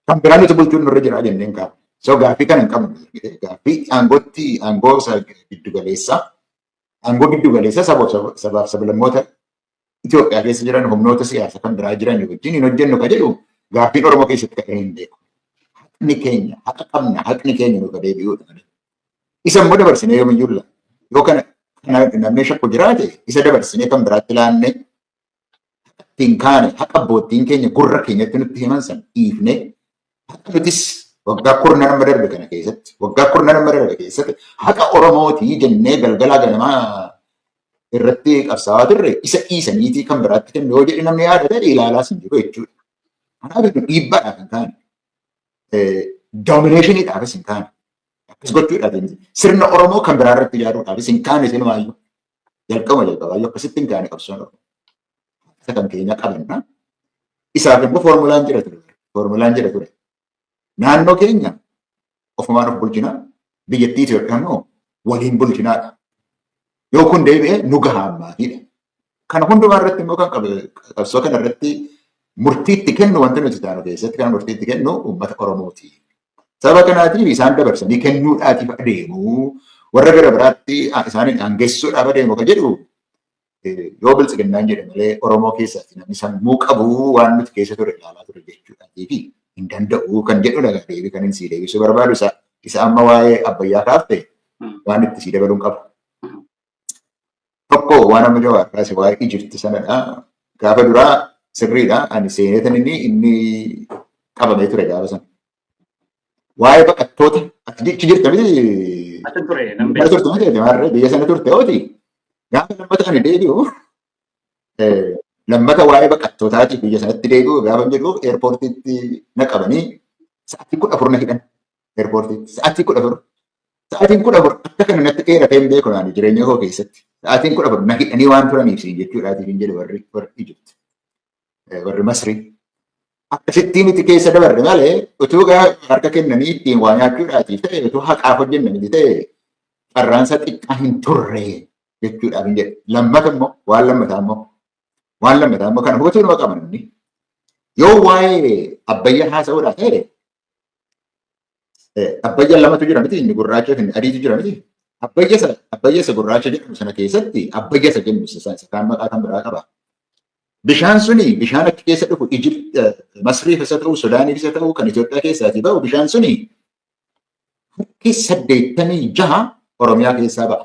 kan biraa nuti bulchuun nurra jira jenneen kaafne. So gaaffii kana hin qabnu. Gaaffii aangootti aangoo isa giddu galeessaa aangoo giddu galeessaa sabaa- sabaaf sablammoota Itoophiyaa keessa jiran humnoota siyaasa kan biraa jiran wajjin hin hojjennu ka jedhu gaaffiin Oromoo keessatti ka'ee hin beeku. Haqni keenya haqa qabna haqni keenya nuuf deebi'uudha malee Isa immoo dabarsinee yoomiyyuu laanne. Yoo kana namni shakku jiraate isa dabarsinee kan biraatti laanne ittiin kaane haqa abbootiin keenya gurra keenyatti nutti himan san dhiifne haqa nutis waggaa kurna nama darbe kana keessatti waggaa kurna nama darbe keessatti haqa Oromootii jennee galgalaa ganamaa irratti qabsaawaa turre isa dhiisaniitii kan biraatti kennu yoo jedhe namni yaada ta'e ilaalaas hin jiru jechuudha. Kanaaf dhiibbaadha kan taane. doomineeshiniidhaafis hin taane. Akkas gochuudhaaf hin sirna Oromoo kan biraa irratti ijaaruudhaafis hin kaane isin waayyuu. Jalqaba jalqabaayyuu akkasitti hin kaane qabsoon Oromoo. Isa kan keenya qabanna. Isaaf immoo foormulaan jira ture. Foormulaan jira ture. Naannoo keenya ofumaan of bulchinaa biyyattii Itoophiyaa immoo waliin bulchinaadha. Yoo kun deebi'e nu gahaa ammaatiidha. Kana hundumaa irratti immoo kan qabsoo kana irratti murtiitti kennu wanti nuti taanu keessatti kan murtiitti kennu uummata Oromooti. Sababa kanaatiif isaan dabarsanii kennuudhaatiif adeemu warra gara biraatti isaaniin aangessuudhaaf adeemu kan jedhu yoo biltsiginnaan jedhe malee Oromoo keessatti namni sammuu qabu waan nuti keessa ture ilaalaa ture jechuudhaatiif hin danda'u kan jedhudha deebii kan sii deebisuu barbaadu isa isa amma waa'ee abbayyaa kaafte waan itti sii dabaluun qabu. Tokko waan amma jawaar kaase waa'ee Ijipti sanadha. Gaafa duraa sirriidha. Ani seeneetan inni inni qabamee ture gaafa sana. Waa'ee baqattoota ati achi jirta miti Achi ture nan mana beeku. turte miti ati maarree biyya sana turte ooti. Gaafa lammata ani deebi'u eh, lammata waa'ee baqattootaatiif biyya sanatti deebi'u gaafa jedhu eerpoortiitti na qabanii sa'aatii kudha afur na hidhan. Eerpoortii sa'aatii kudha afur sa'aatiin kudha afur akka kana natti dheeratee hin beeku naani jireenya koo keessatti sa'aatiin kudha afur na hidhanii waan turaniif siin jechuudhaatiif hin jedhe warri warri Ijipti warri Masrii. Akkasittii miti keessa dabarre malee utuu gara harka kennanii ittiin waa nyaachuudhaatiif ta'e utuu haqaaf hojjenna miti ta'e carraansa xiqqaa hin turre jechuudhaaf hin jedhe. Lammata immoo waan lammataa immoo waan lammataa immoo kana hubachuu nama qaban inni yoo waa'ee abbayyaa haasa'uudhaa ta'e Abbayya lamatu jira miti inni gurraacha fi inni adiitu jira miti. Abbayya isa abbayya isa gurraacha jedhamu sana keessatti abbayya isa jennu isa isa kaan maqaa kan biraa qaba. Bishaan suni bishaan achi keessa dhufu Ijipt Masriif isa ta'u Sudaaniif isa ta'u kan Itoophiyaa keessaatii ba'u bishaan suni harki saddeettamii jaha Oromiyaa keessaa ba'a.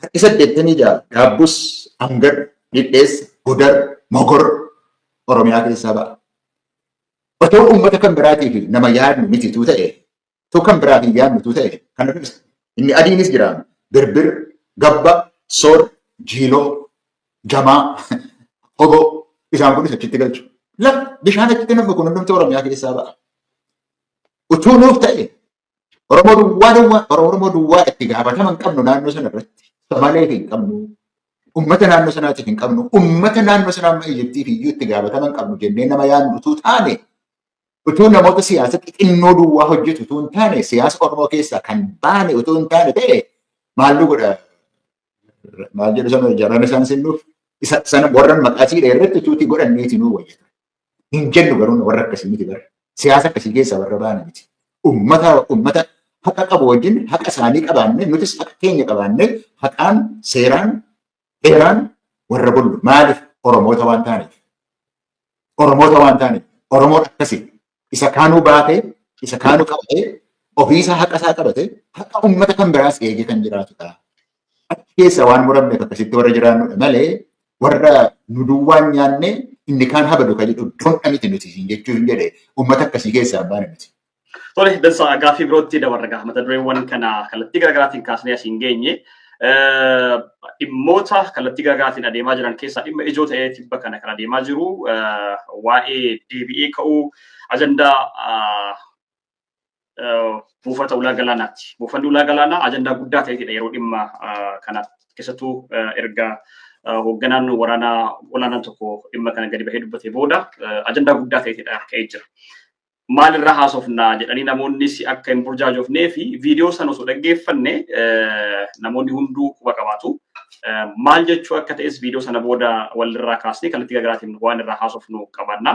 Harki 86 Gaabbus, Angar, Dhidheessa, Gudar, Mogor Oromiyaa keessaa ba'a. Otoo uummata kan biraatiif nama yaadnu mitituu ta'e, otoo kan biraaf hin yaadnutuu ta'e kana dubbisa. Inni adiinis jira. Birbir, Gabba, Soor, Jiiloo, Jamaa, Oboo isaan kunis achitti galchu. Lafa bishaan achitti namni kun hundumtuu Oromiyaa keessaa ba'a. Utuu nuuf ta'e Oromoo duwwaa duwwaa Oromoo duwwaa itti gaafatama hin qabnu naannoo sana irratti. Somaaleef hin qabnu. Uummata naannoo sanaatiif hin qabnu. Uummata naannoo sanaa amma Ijiptiif iyyuu itti gaafatama hin qabnu jennee nama yaadnu utuu taane utuu namoota siyaasa xixinnoo duwwaa hojjetu utuu hin taane siyaasa Oromoo keessaa kan baane utuu hin taane ta'e maal nu godha maal jedhu sana jaraan isaan sinnuuf isa sana warran maqaa siidha irratti utuutii godhanneeti nuu wayyata. Hin jennu garuu warra akkasii miti bara. Siyaasa akkasii keessaa warra baana miti. Ummata ummata haqa qabu wajjin haqa isaanii qabaannee nutis haqa keenya qabaannee haqaan seeraan heeraan warra bullu maaliif Oromoota waan taaneef. Oromoota waan taaneef. Oromoon akkasii isa kaanuu baatee isa kaanuu qabatee ofiisaa haqa isaa qabatee haqa ummata kan biraas eegee kan jiraatudha. Achi keessa waan muramneef akkasitti warra jiraannudha malee warra nu duwwaan nyaanne inni kaan habadu kan jedhu dondha miti nuti siin jechuu hin jedhe uummata akkasii keessaa baana miti. Tole dansa gaaffii birootti dabarra gaha mata dureewwan kana kallattii garaagaraatiin kaasnee asiin geenye dhimmoota kallattii garaagaraatiin adeemaa jiran keessaa dhimma ijoo ta'ee tibba kana kan adeemaa jiru waa'ee deebi'ee ka'uu ajandaa buufata ulaa galaanaati. Buufanni ulaa galaanaa ajandaa guddaa ta'eetidha yeroo dhimma kana keessattuu erga hoogganaan waraanaa olaanaan tokko dhimma kana gadi bahee dubbatee booda ajandaa guddaa ta'eetidha ka'ee jira. Maalirraa haasofna jedhanii namoonnis akka hin burjaajofnee fi viidiyoo sana osoo dhaggeeffanne namoonni hunduu quba qabaatu. Maal jechuu akka ta'es viidiyoo sana booda walirraa kaasnee kallattii garaagaraatiin waan irraa haasofnu qabaanna.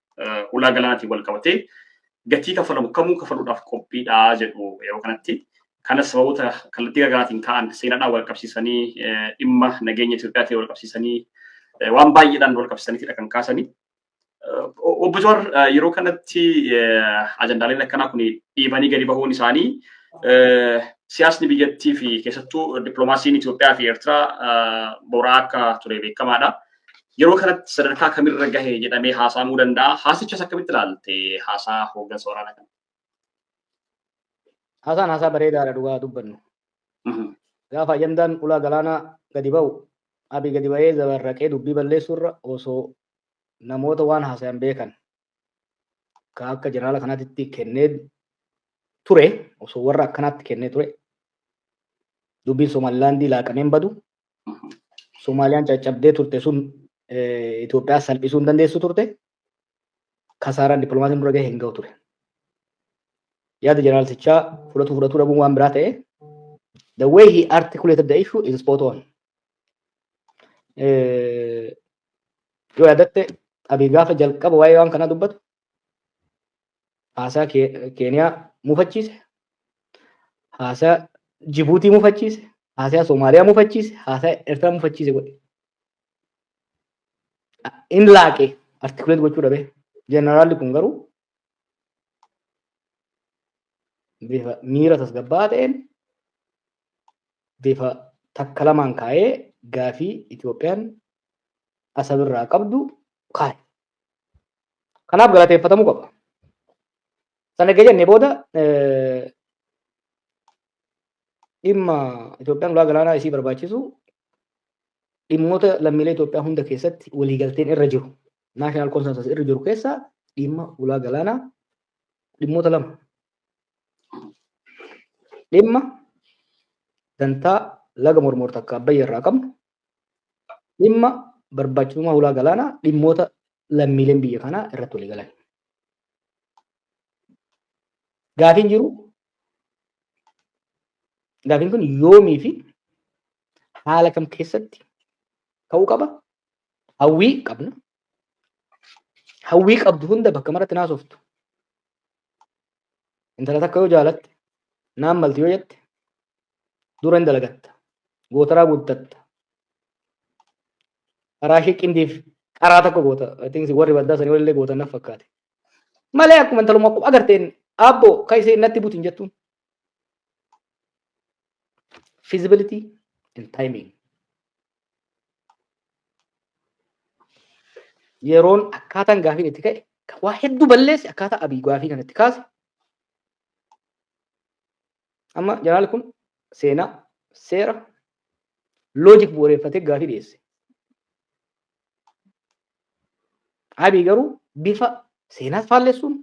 ulaa galaanaatiin wal qabatee gatii kafalamu kamuu kafaluudhaaf qophiidha jedhu yeroo kanatti. Kanas sababoota kallattii garaagaraatiin ka'an seenaadhaan wal qabsiisanii dhimma nageenya Itoophiyaatiin wal qabsiisanii waan baay'eedhaan wal qabsiisaniitidha kan kaasanii. Obbo Jawaar yeroo kanatti ajandaaleen akkanaa kun dhiibanii gadi bahuun isaanii siyaasni biyyattii fi keessattuu dippiloomaasiin Itoophiyaa fi Eertiraa boraa akka ture beekamaadha. Yeroo kanatti sadarkaa kamirra gahe jedhamee haasa'amuu danda'a. Haasichas akkamitti ilaalte haasaa hooggansa waraanaa kana? Haasaan haasaa bareedaadha dhugaa dubbannu. Gaafa ajandaan ulaa galaanaa gadi ba'u abii gadi ba'ee zabarraqee dubbii balleessuurra osoo namoota waan haasayan beekan ka akka jeneraala kanaatti kennee ture osoo warra akkanaatti kennee ture dubbiin Somaalilaandii laaqameen badu Somaaliyaan caccabdee turte sun Itoophiyaa salphisuu hin dandeessu turte. Kasaaraan dippiloomaasiin dura gahe hin gahu ture. Yaada jeneraalsichaa fudhatuu fudhatuu dhabuun waan biraa ta'e. The way he articulated the issue is spot on. Yoo yaadatte abii gaafa jalqaba waa'ee waan kanaa dubbatu haasaa Keeniyaa mufachiise, haasaa Jibuutii mufachiise, haasaa Somaaliyaa mufachiise, haasaa Eertiraa mufachiise godhe. In laaqe artikuleet gochuu dhabe. Jeneraalli kun garuu bifa miira tasgabbaa'aa ta'een bifa takka lamaan kaa'ee gaafii Itoophiyaan asabirraa qabdu kaa'e. Kanaaf galateeffatamuu qaba. Sana erga jennee booda dhimma Itoophiyaan ulaa galaanaa isii barbaachisu dhimmoota lammiilee Itoophiyaa hunda keessatti waliigalteen irra jiru naashinaal konsensus irra jiru keessaa dhimma ulaa galaanaa dhimmoota lama dhimma dantaa laga mormoorta akka abbayya irraa qabnu dhimma barbaachisummaa hulaa galaanaa dhimmoota lammiileen biyya kanaa irratti walii galan. Gaafiin jiru gaafiin kun yoomii fi haala kam keessatti ka'uu qaba hawwii qabna hawwii qabdu hunda bakka maratti naasoftu intala takka yoo jaalatte naan malti yoo jette dura hin dalagatta gootaraa guuttatta karaa ishee qindiif karaa tokko goota atiinsi warri baddaa sanii walillee gootan naf fakkaate malee akkuma intaluma akkuma agarteen aabboo ka ishee natti butin jettuun feasibility and timing yeroon akkaataan gaafiin itti ka'e kan waa hedduu balleessi akkaataa abii gaafii kan itti kaase amma janaal kun seenaa seera loojik bu'uureeffatee gaafii dhiyeesse abii garuu bifa seenaas faallessuun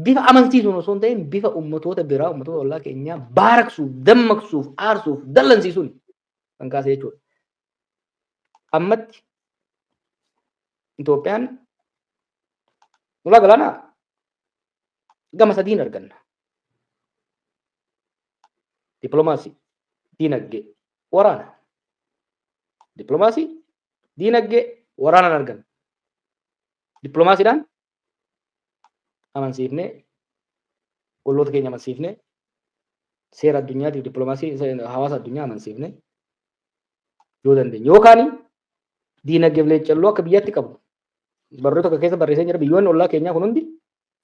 bifa amansiisuun osoo hin ta'in bifa ummatoota biraa ummatoota ollaa keenyaa baaraksuuf dammaqsuuf aarsuuf dallansiisuun kan kaase jechuudha. Ammatti Itoophiyaan ulaa galaanaa gama sadiin arganna. Dippiloomaasii, diinagdee, waraana. Dippiloomaasii, diinagdee, waraanaan arganna. Dippiloomaasiidhaan amansiifne olloota keenya amansiifne seera addunyaatiif dippiloomaasii hawaasa addunyaa amansiifne yoo dandeenye yookaan diinagdeef leeccalloo akka biyyaatti qabu barruu tokko keessa barreessee jira biyyoonni ollaa keenyaa kun hundi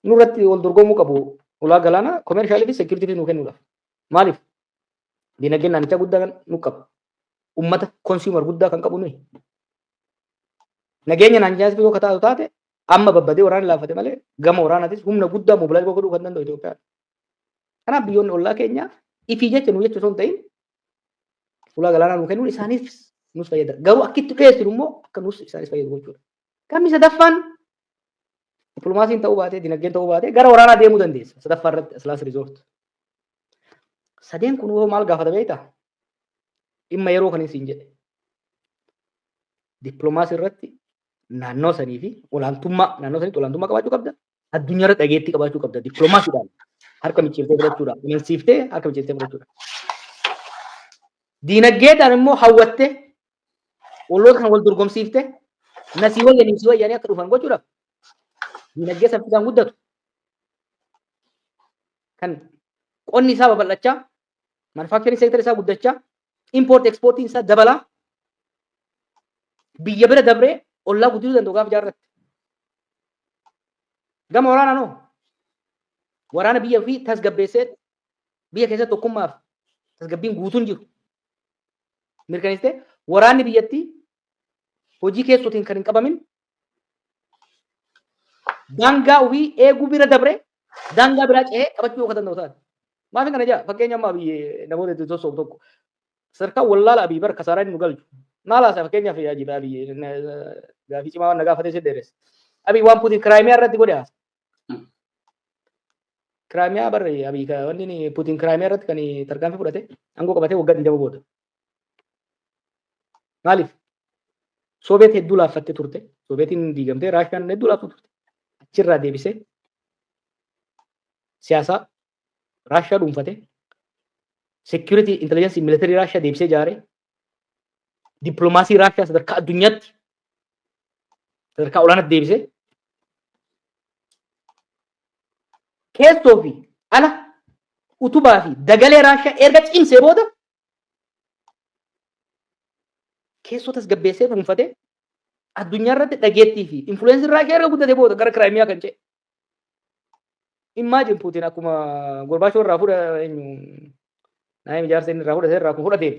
nurratti wal dorgomuu qabu ulaa galaanaa koomeershaalii fi seekiyuritiifi nuu kennuudhaaf maaliif diinagdeen naannichaa guddaa nu qaba ummata konsuumar guddaa kan qabu nuyi nageenya naannichaas yoo kataatu taate Amma babbadee waraanni laaffate malee gama waraanaatis humna guddaa mobilaayiz godhuu kan danda'u Itoophiyaa. Kanaaf biyyoonni ollaa keenyaa ifii jecha nuu jecha osoo hin ta'in fuula galaanaa nuu kennuun isaaniif nus fayyada. Garuu akka itti dhiyeessinu immoo akka nus isaanis fayyadu gochuudha. Gamni sadaffaan dippiloomaasiin ta'uu baatee dinagdeen ta'uu baatee gara waraanaa deemuu dandeessa. Sadaffaa irratti asilaas riizoort. Sadeen kun hoo maal gaafata beektaa? Dhimma yeroo kan isin jedhe. Dippiloomaasii irratti naannoo sanii fi olaantummaa naannoo saniitti olaantummaa qabaachuu qabda. Addunyaa irratti dhageettii qabaachuu qabda. Dippiloomaasiidhaan harka micciirtee fudhachuudha. Amansiiftee harka micciirtee fudhachuudha. Diinagdeedhaan immoo hawwattee olloota kan wal dorgomsiiftee nasii wayyanii si wayyanii akka dhufan gochuudhaaf diinagdee saffisaan guddatu. Kan qonni isaa babal'achaa Manufacturing sector isaa guddachaa, import exportiin isaa dabalaa, biyya bira dabree ollaa guddisuu danda'u gaafa jaarratti. Gama waraanaan hoo? Waraana biyya ofii tasgabbeessee biyya keessatti tokkummaaf tasgabbiin guutuun jiru. Mirkaneessitee waraanni biyyattii hojii keessootiin kan hin qabamin daangaa ofii eeguu bira dabree daangaa biraa ce'ee qabachuu akka danda'u taate. Maafin kana jaa fakkeenya amma abiyyi namoota itti sossoobu tokko sadarkaa wallaala abiyyi bara kasaaraa inni nu galchu. Maal haasaa fakkeenyaaf yaa jibaa abiyyi gaafii cimaa waan na gaafatee si dheeressa. Abiyyi waan Puutiin kiraayimiyaa irratti godhe haasa. Kiraayimiyaa barri abiyyi wanni Puutiin kiraayimiyaa irratti kan tarkaanfii fudhate aangoo qabatee waggaa 20 booda. Maaliif? Soobeet hedduu laaffatte turte. Soobeetiin diigamtee Raashiyaan hedduu laaftu turte. Achirraa deebisee siyaasaa Raashiyaa dhuunfate. Seekiyuritii intelligensii militarii Raashiyaa deebisee ijaare. Dippiloomaasii Raashiyaa sadarkaa addunyaatti sadarkaa olaanaatti deebisee keessoo fi ala utubaa fi dagalee Raashiyaa erga cimsee booda keessoo tasgabbeessee dhuunfatee addunyaa irratti dhageettii fi influensii Raashiyaa irra guddate booda gara Kiraayimiyaa kan ce'e. Immaajin Puutiin akkuma Gorbaachoo irraa fuudha eenyu naayim ijaarsa inni irraa fudhate irraa akkuma fudhateen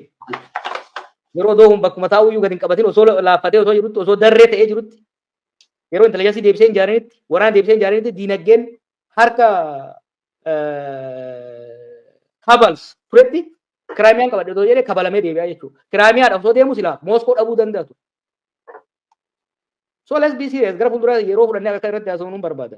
yeroo doohuun bakkuma taa'uu iyyuu gad hin qabatin osoo laaffatee osoo jirutti osoo darree ta'ee jirutti yeroo intelijansii deebisee hin jaarinitti waraana deebisee hin jaarinitti diinagdeen harka kabals turetti kiraamiyaan qabadhe otoo jedhee kabalamee deebi'aa jechuudha. Kiraamiyaadhaaf otoo deemu silaa Mooskoo dhabuu danda'a ture. So let's be serious gara fuulduraa yeroo fudhannee akka irratti haasofnu barbaada.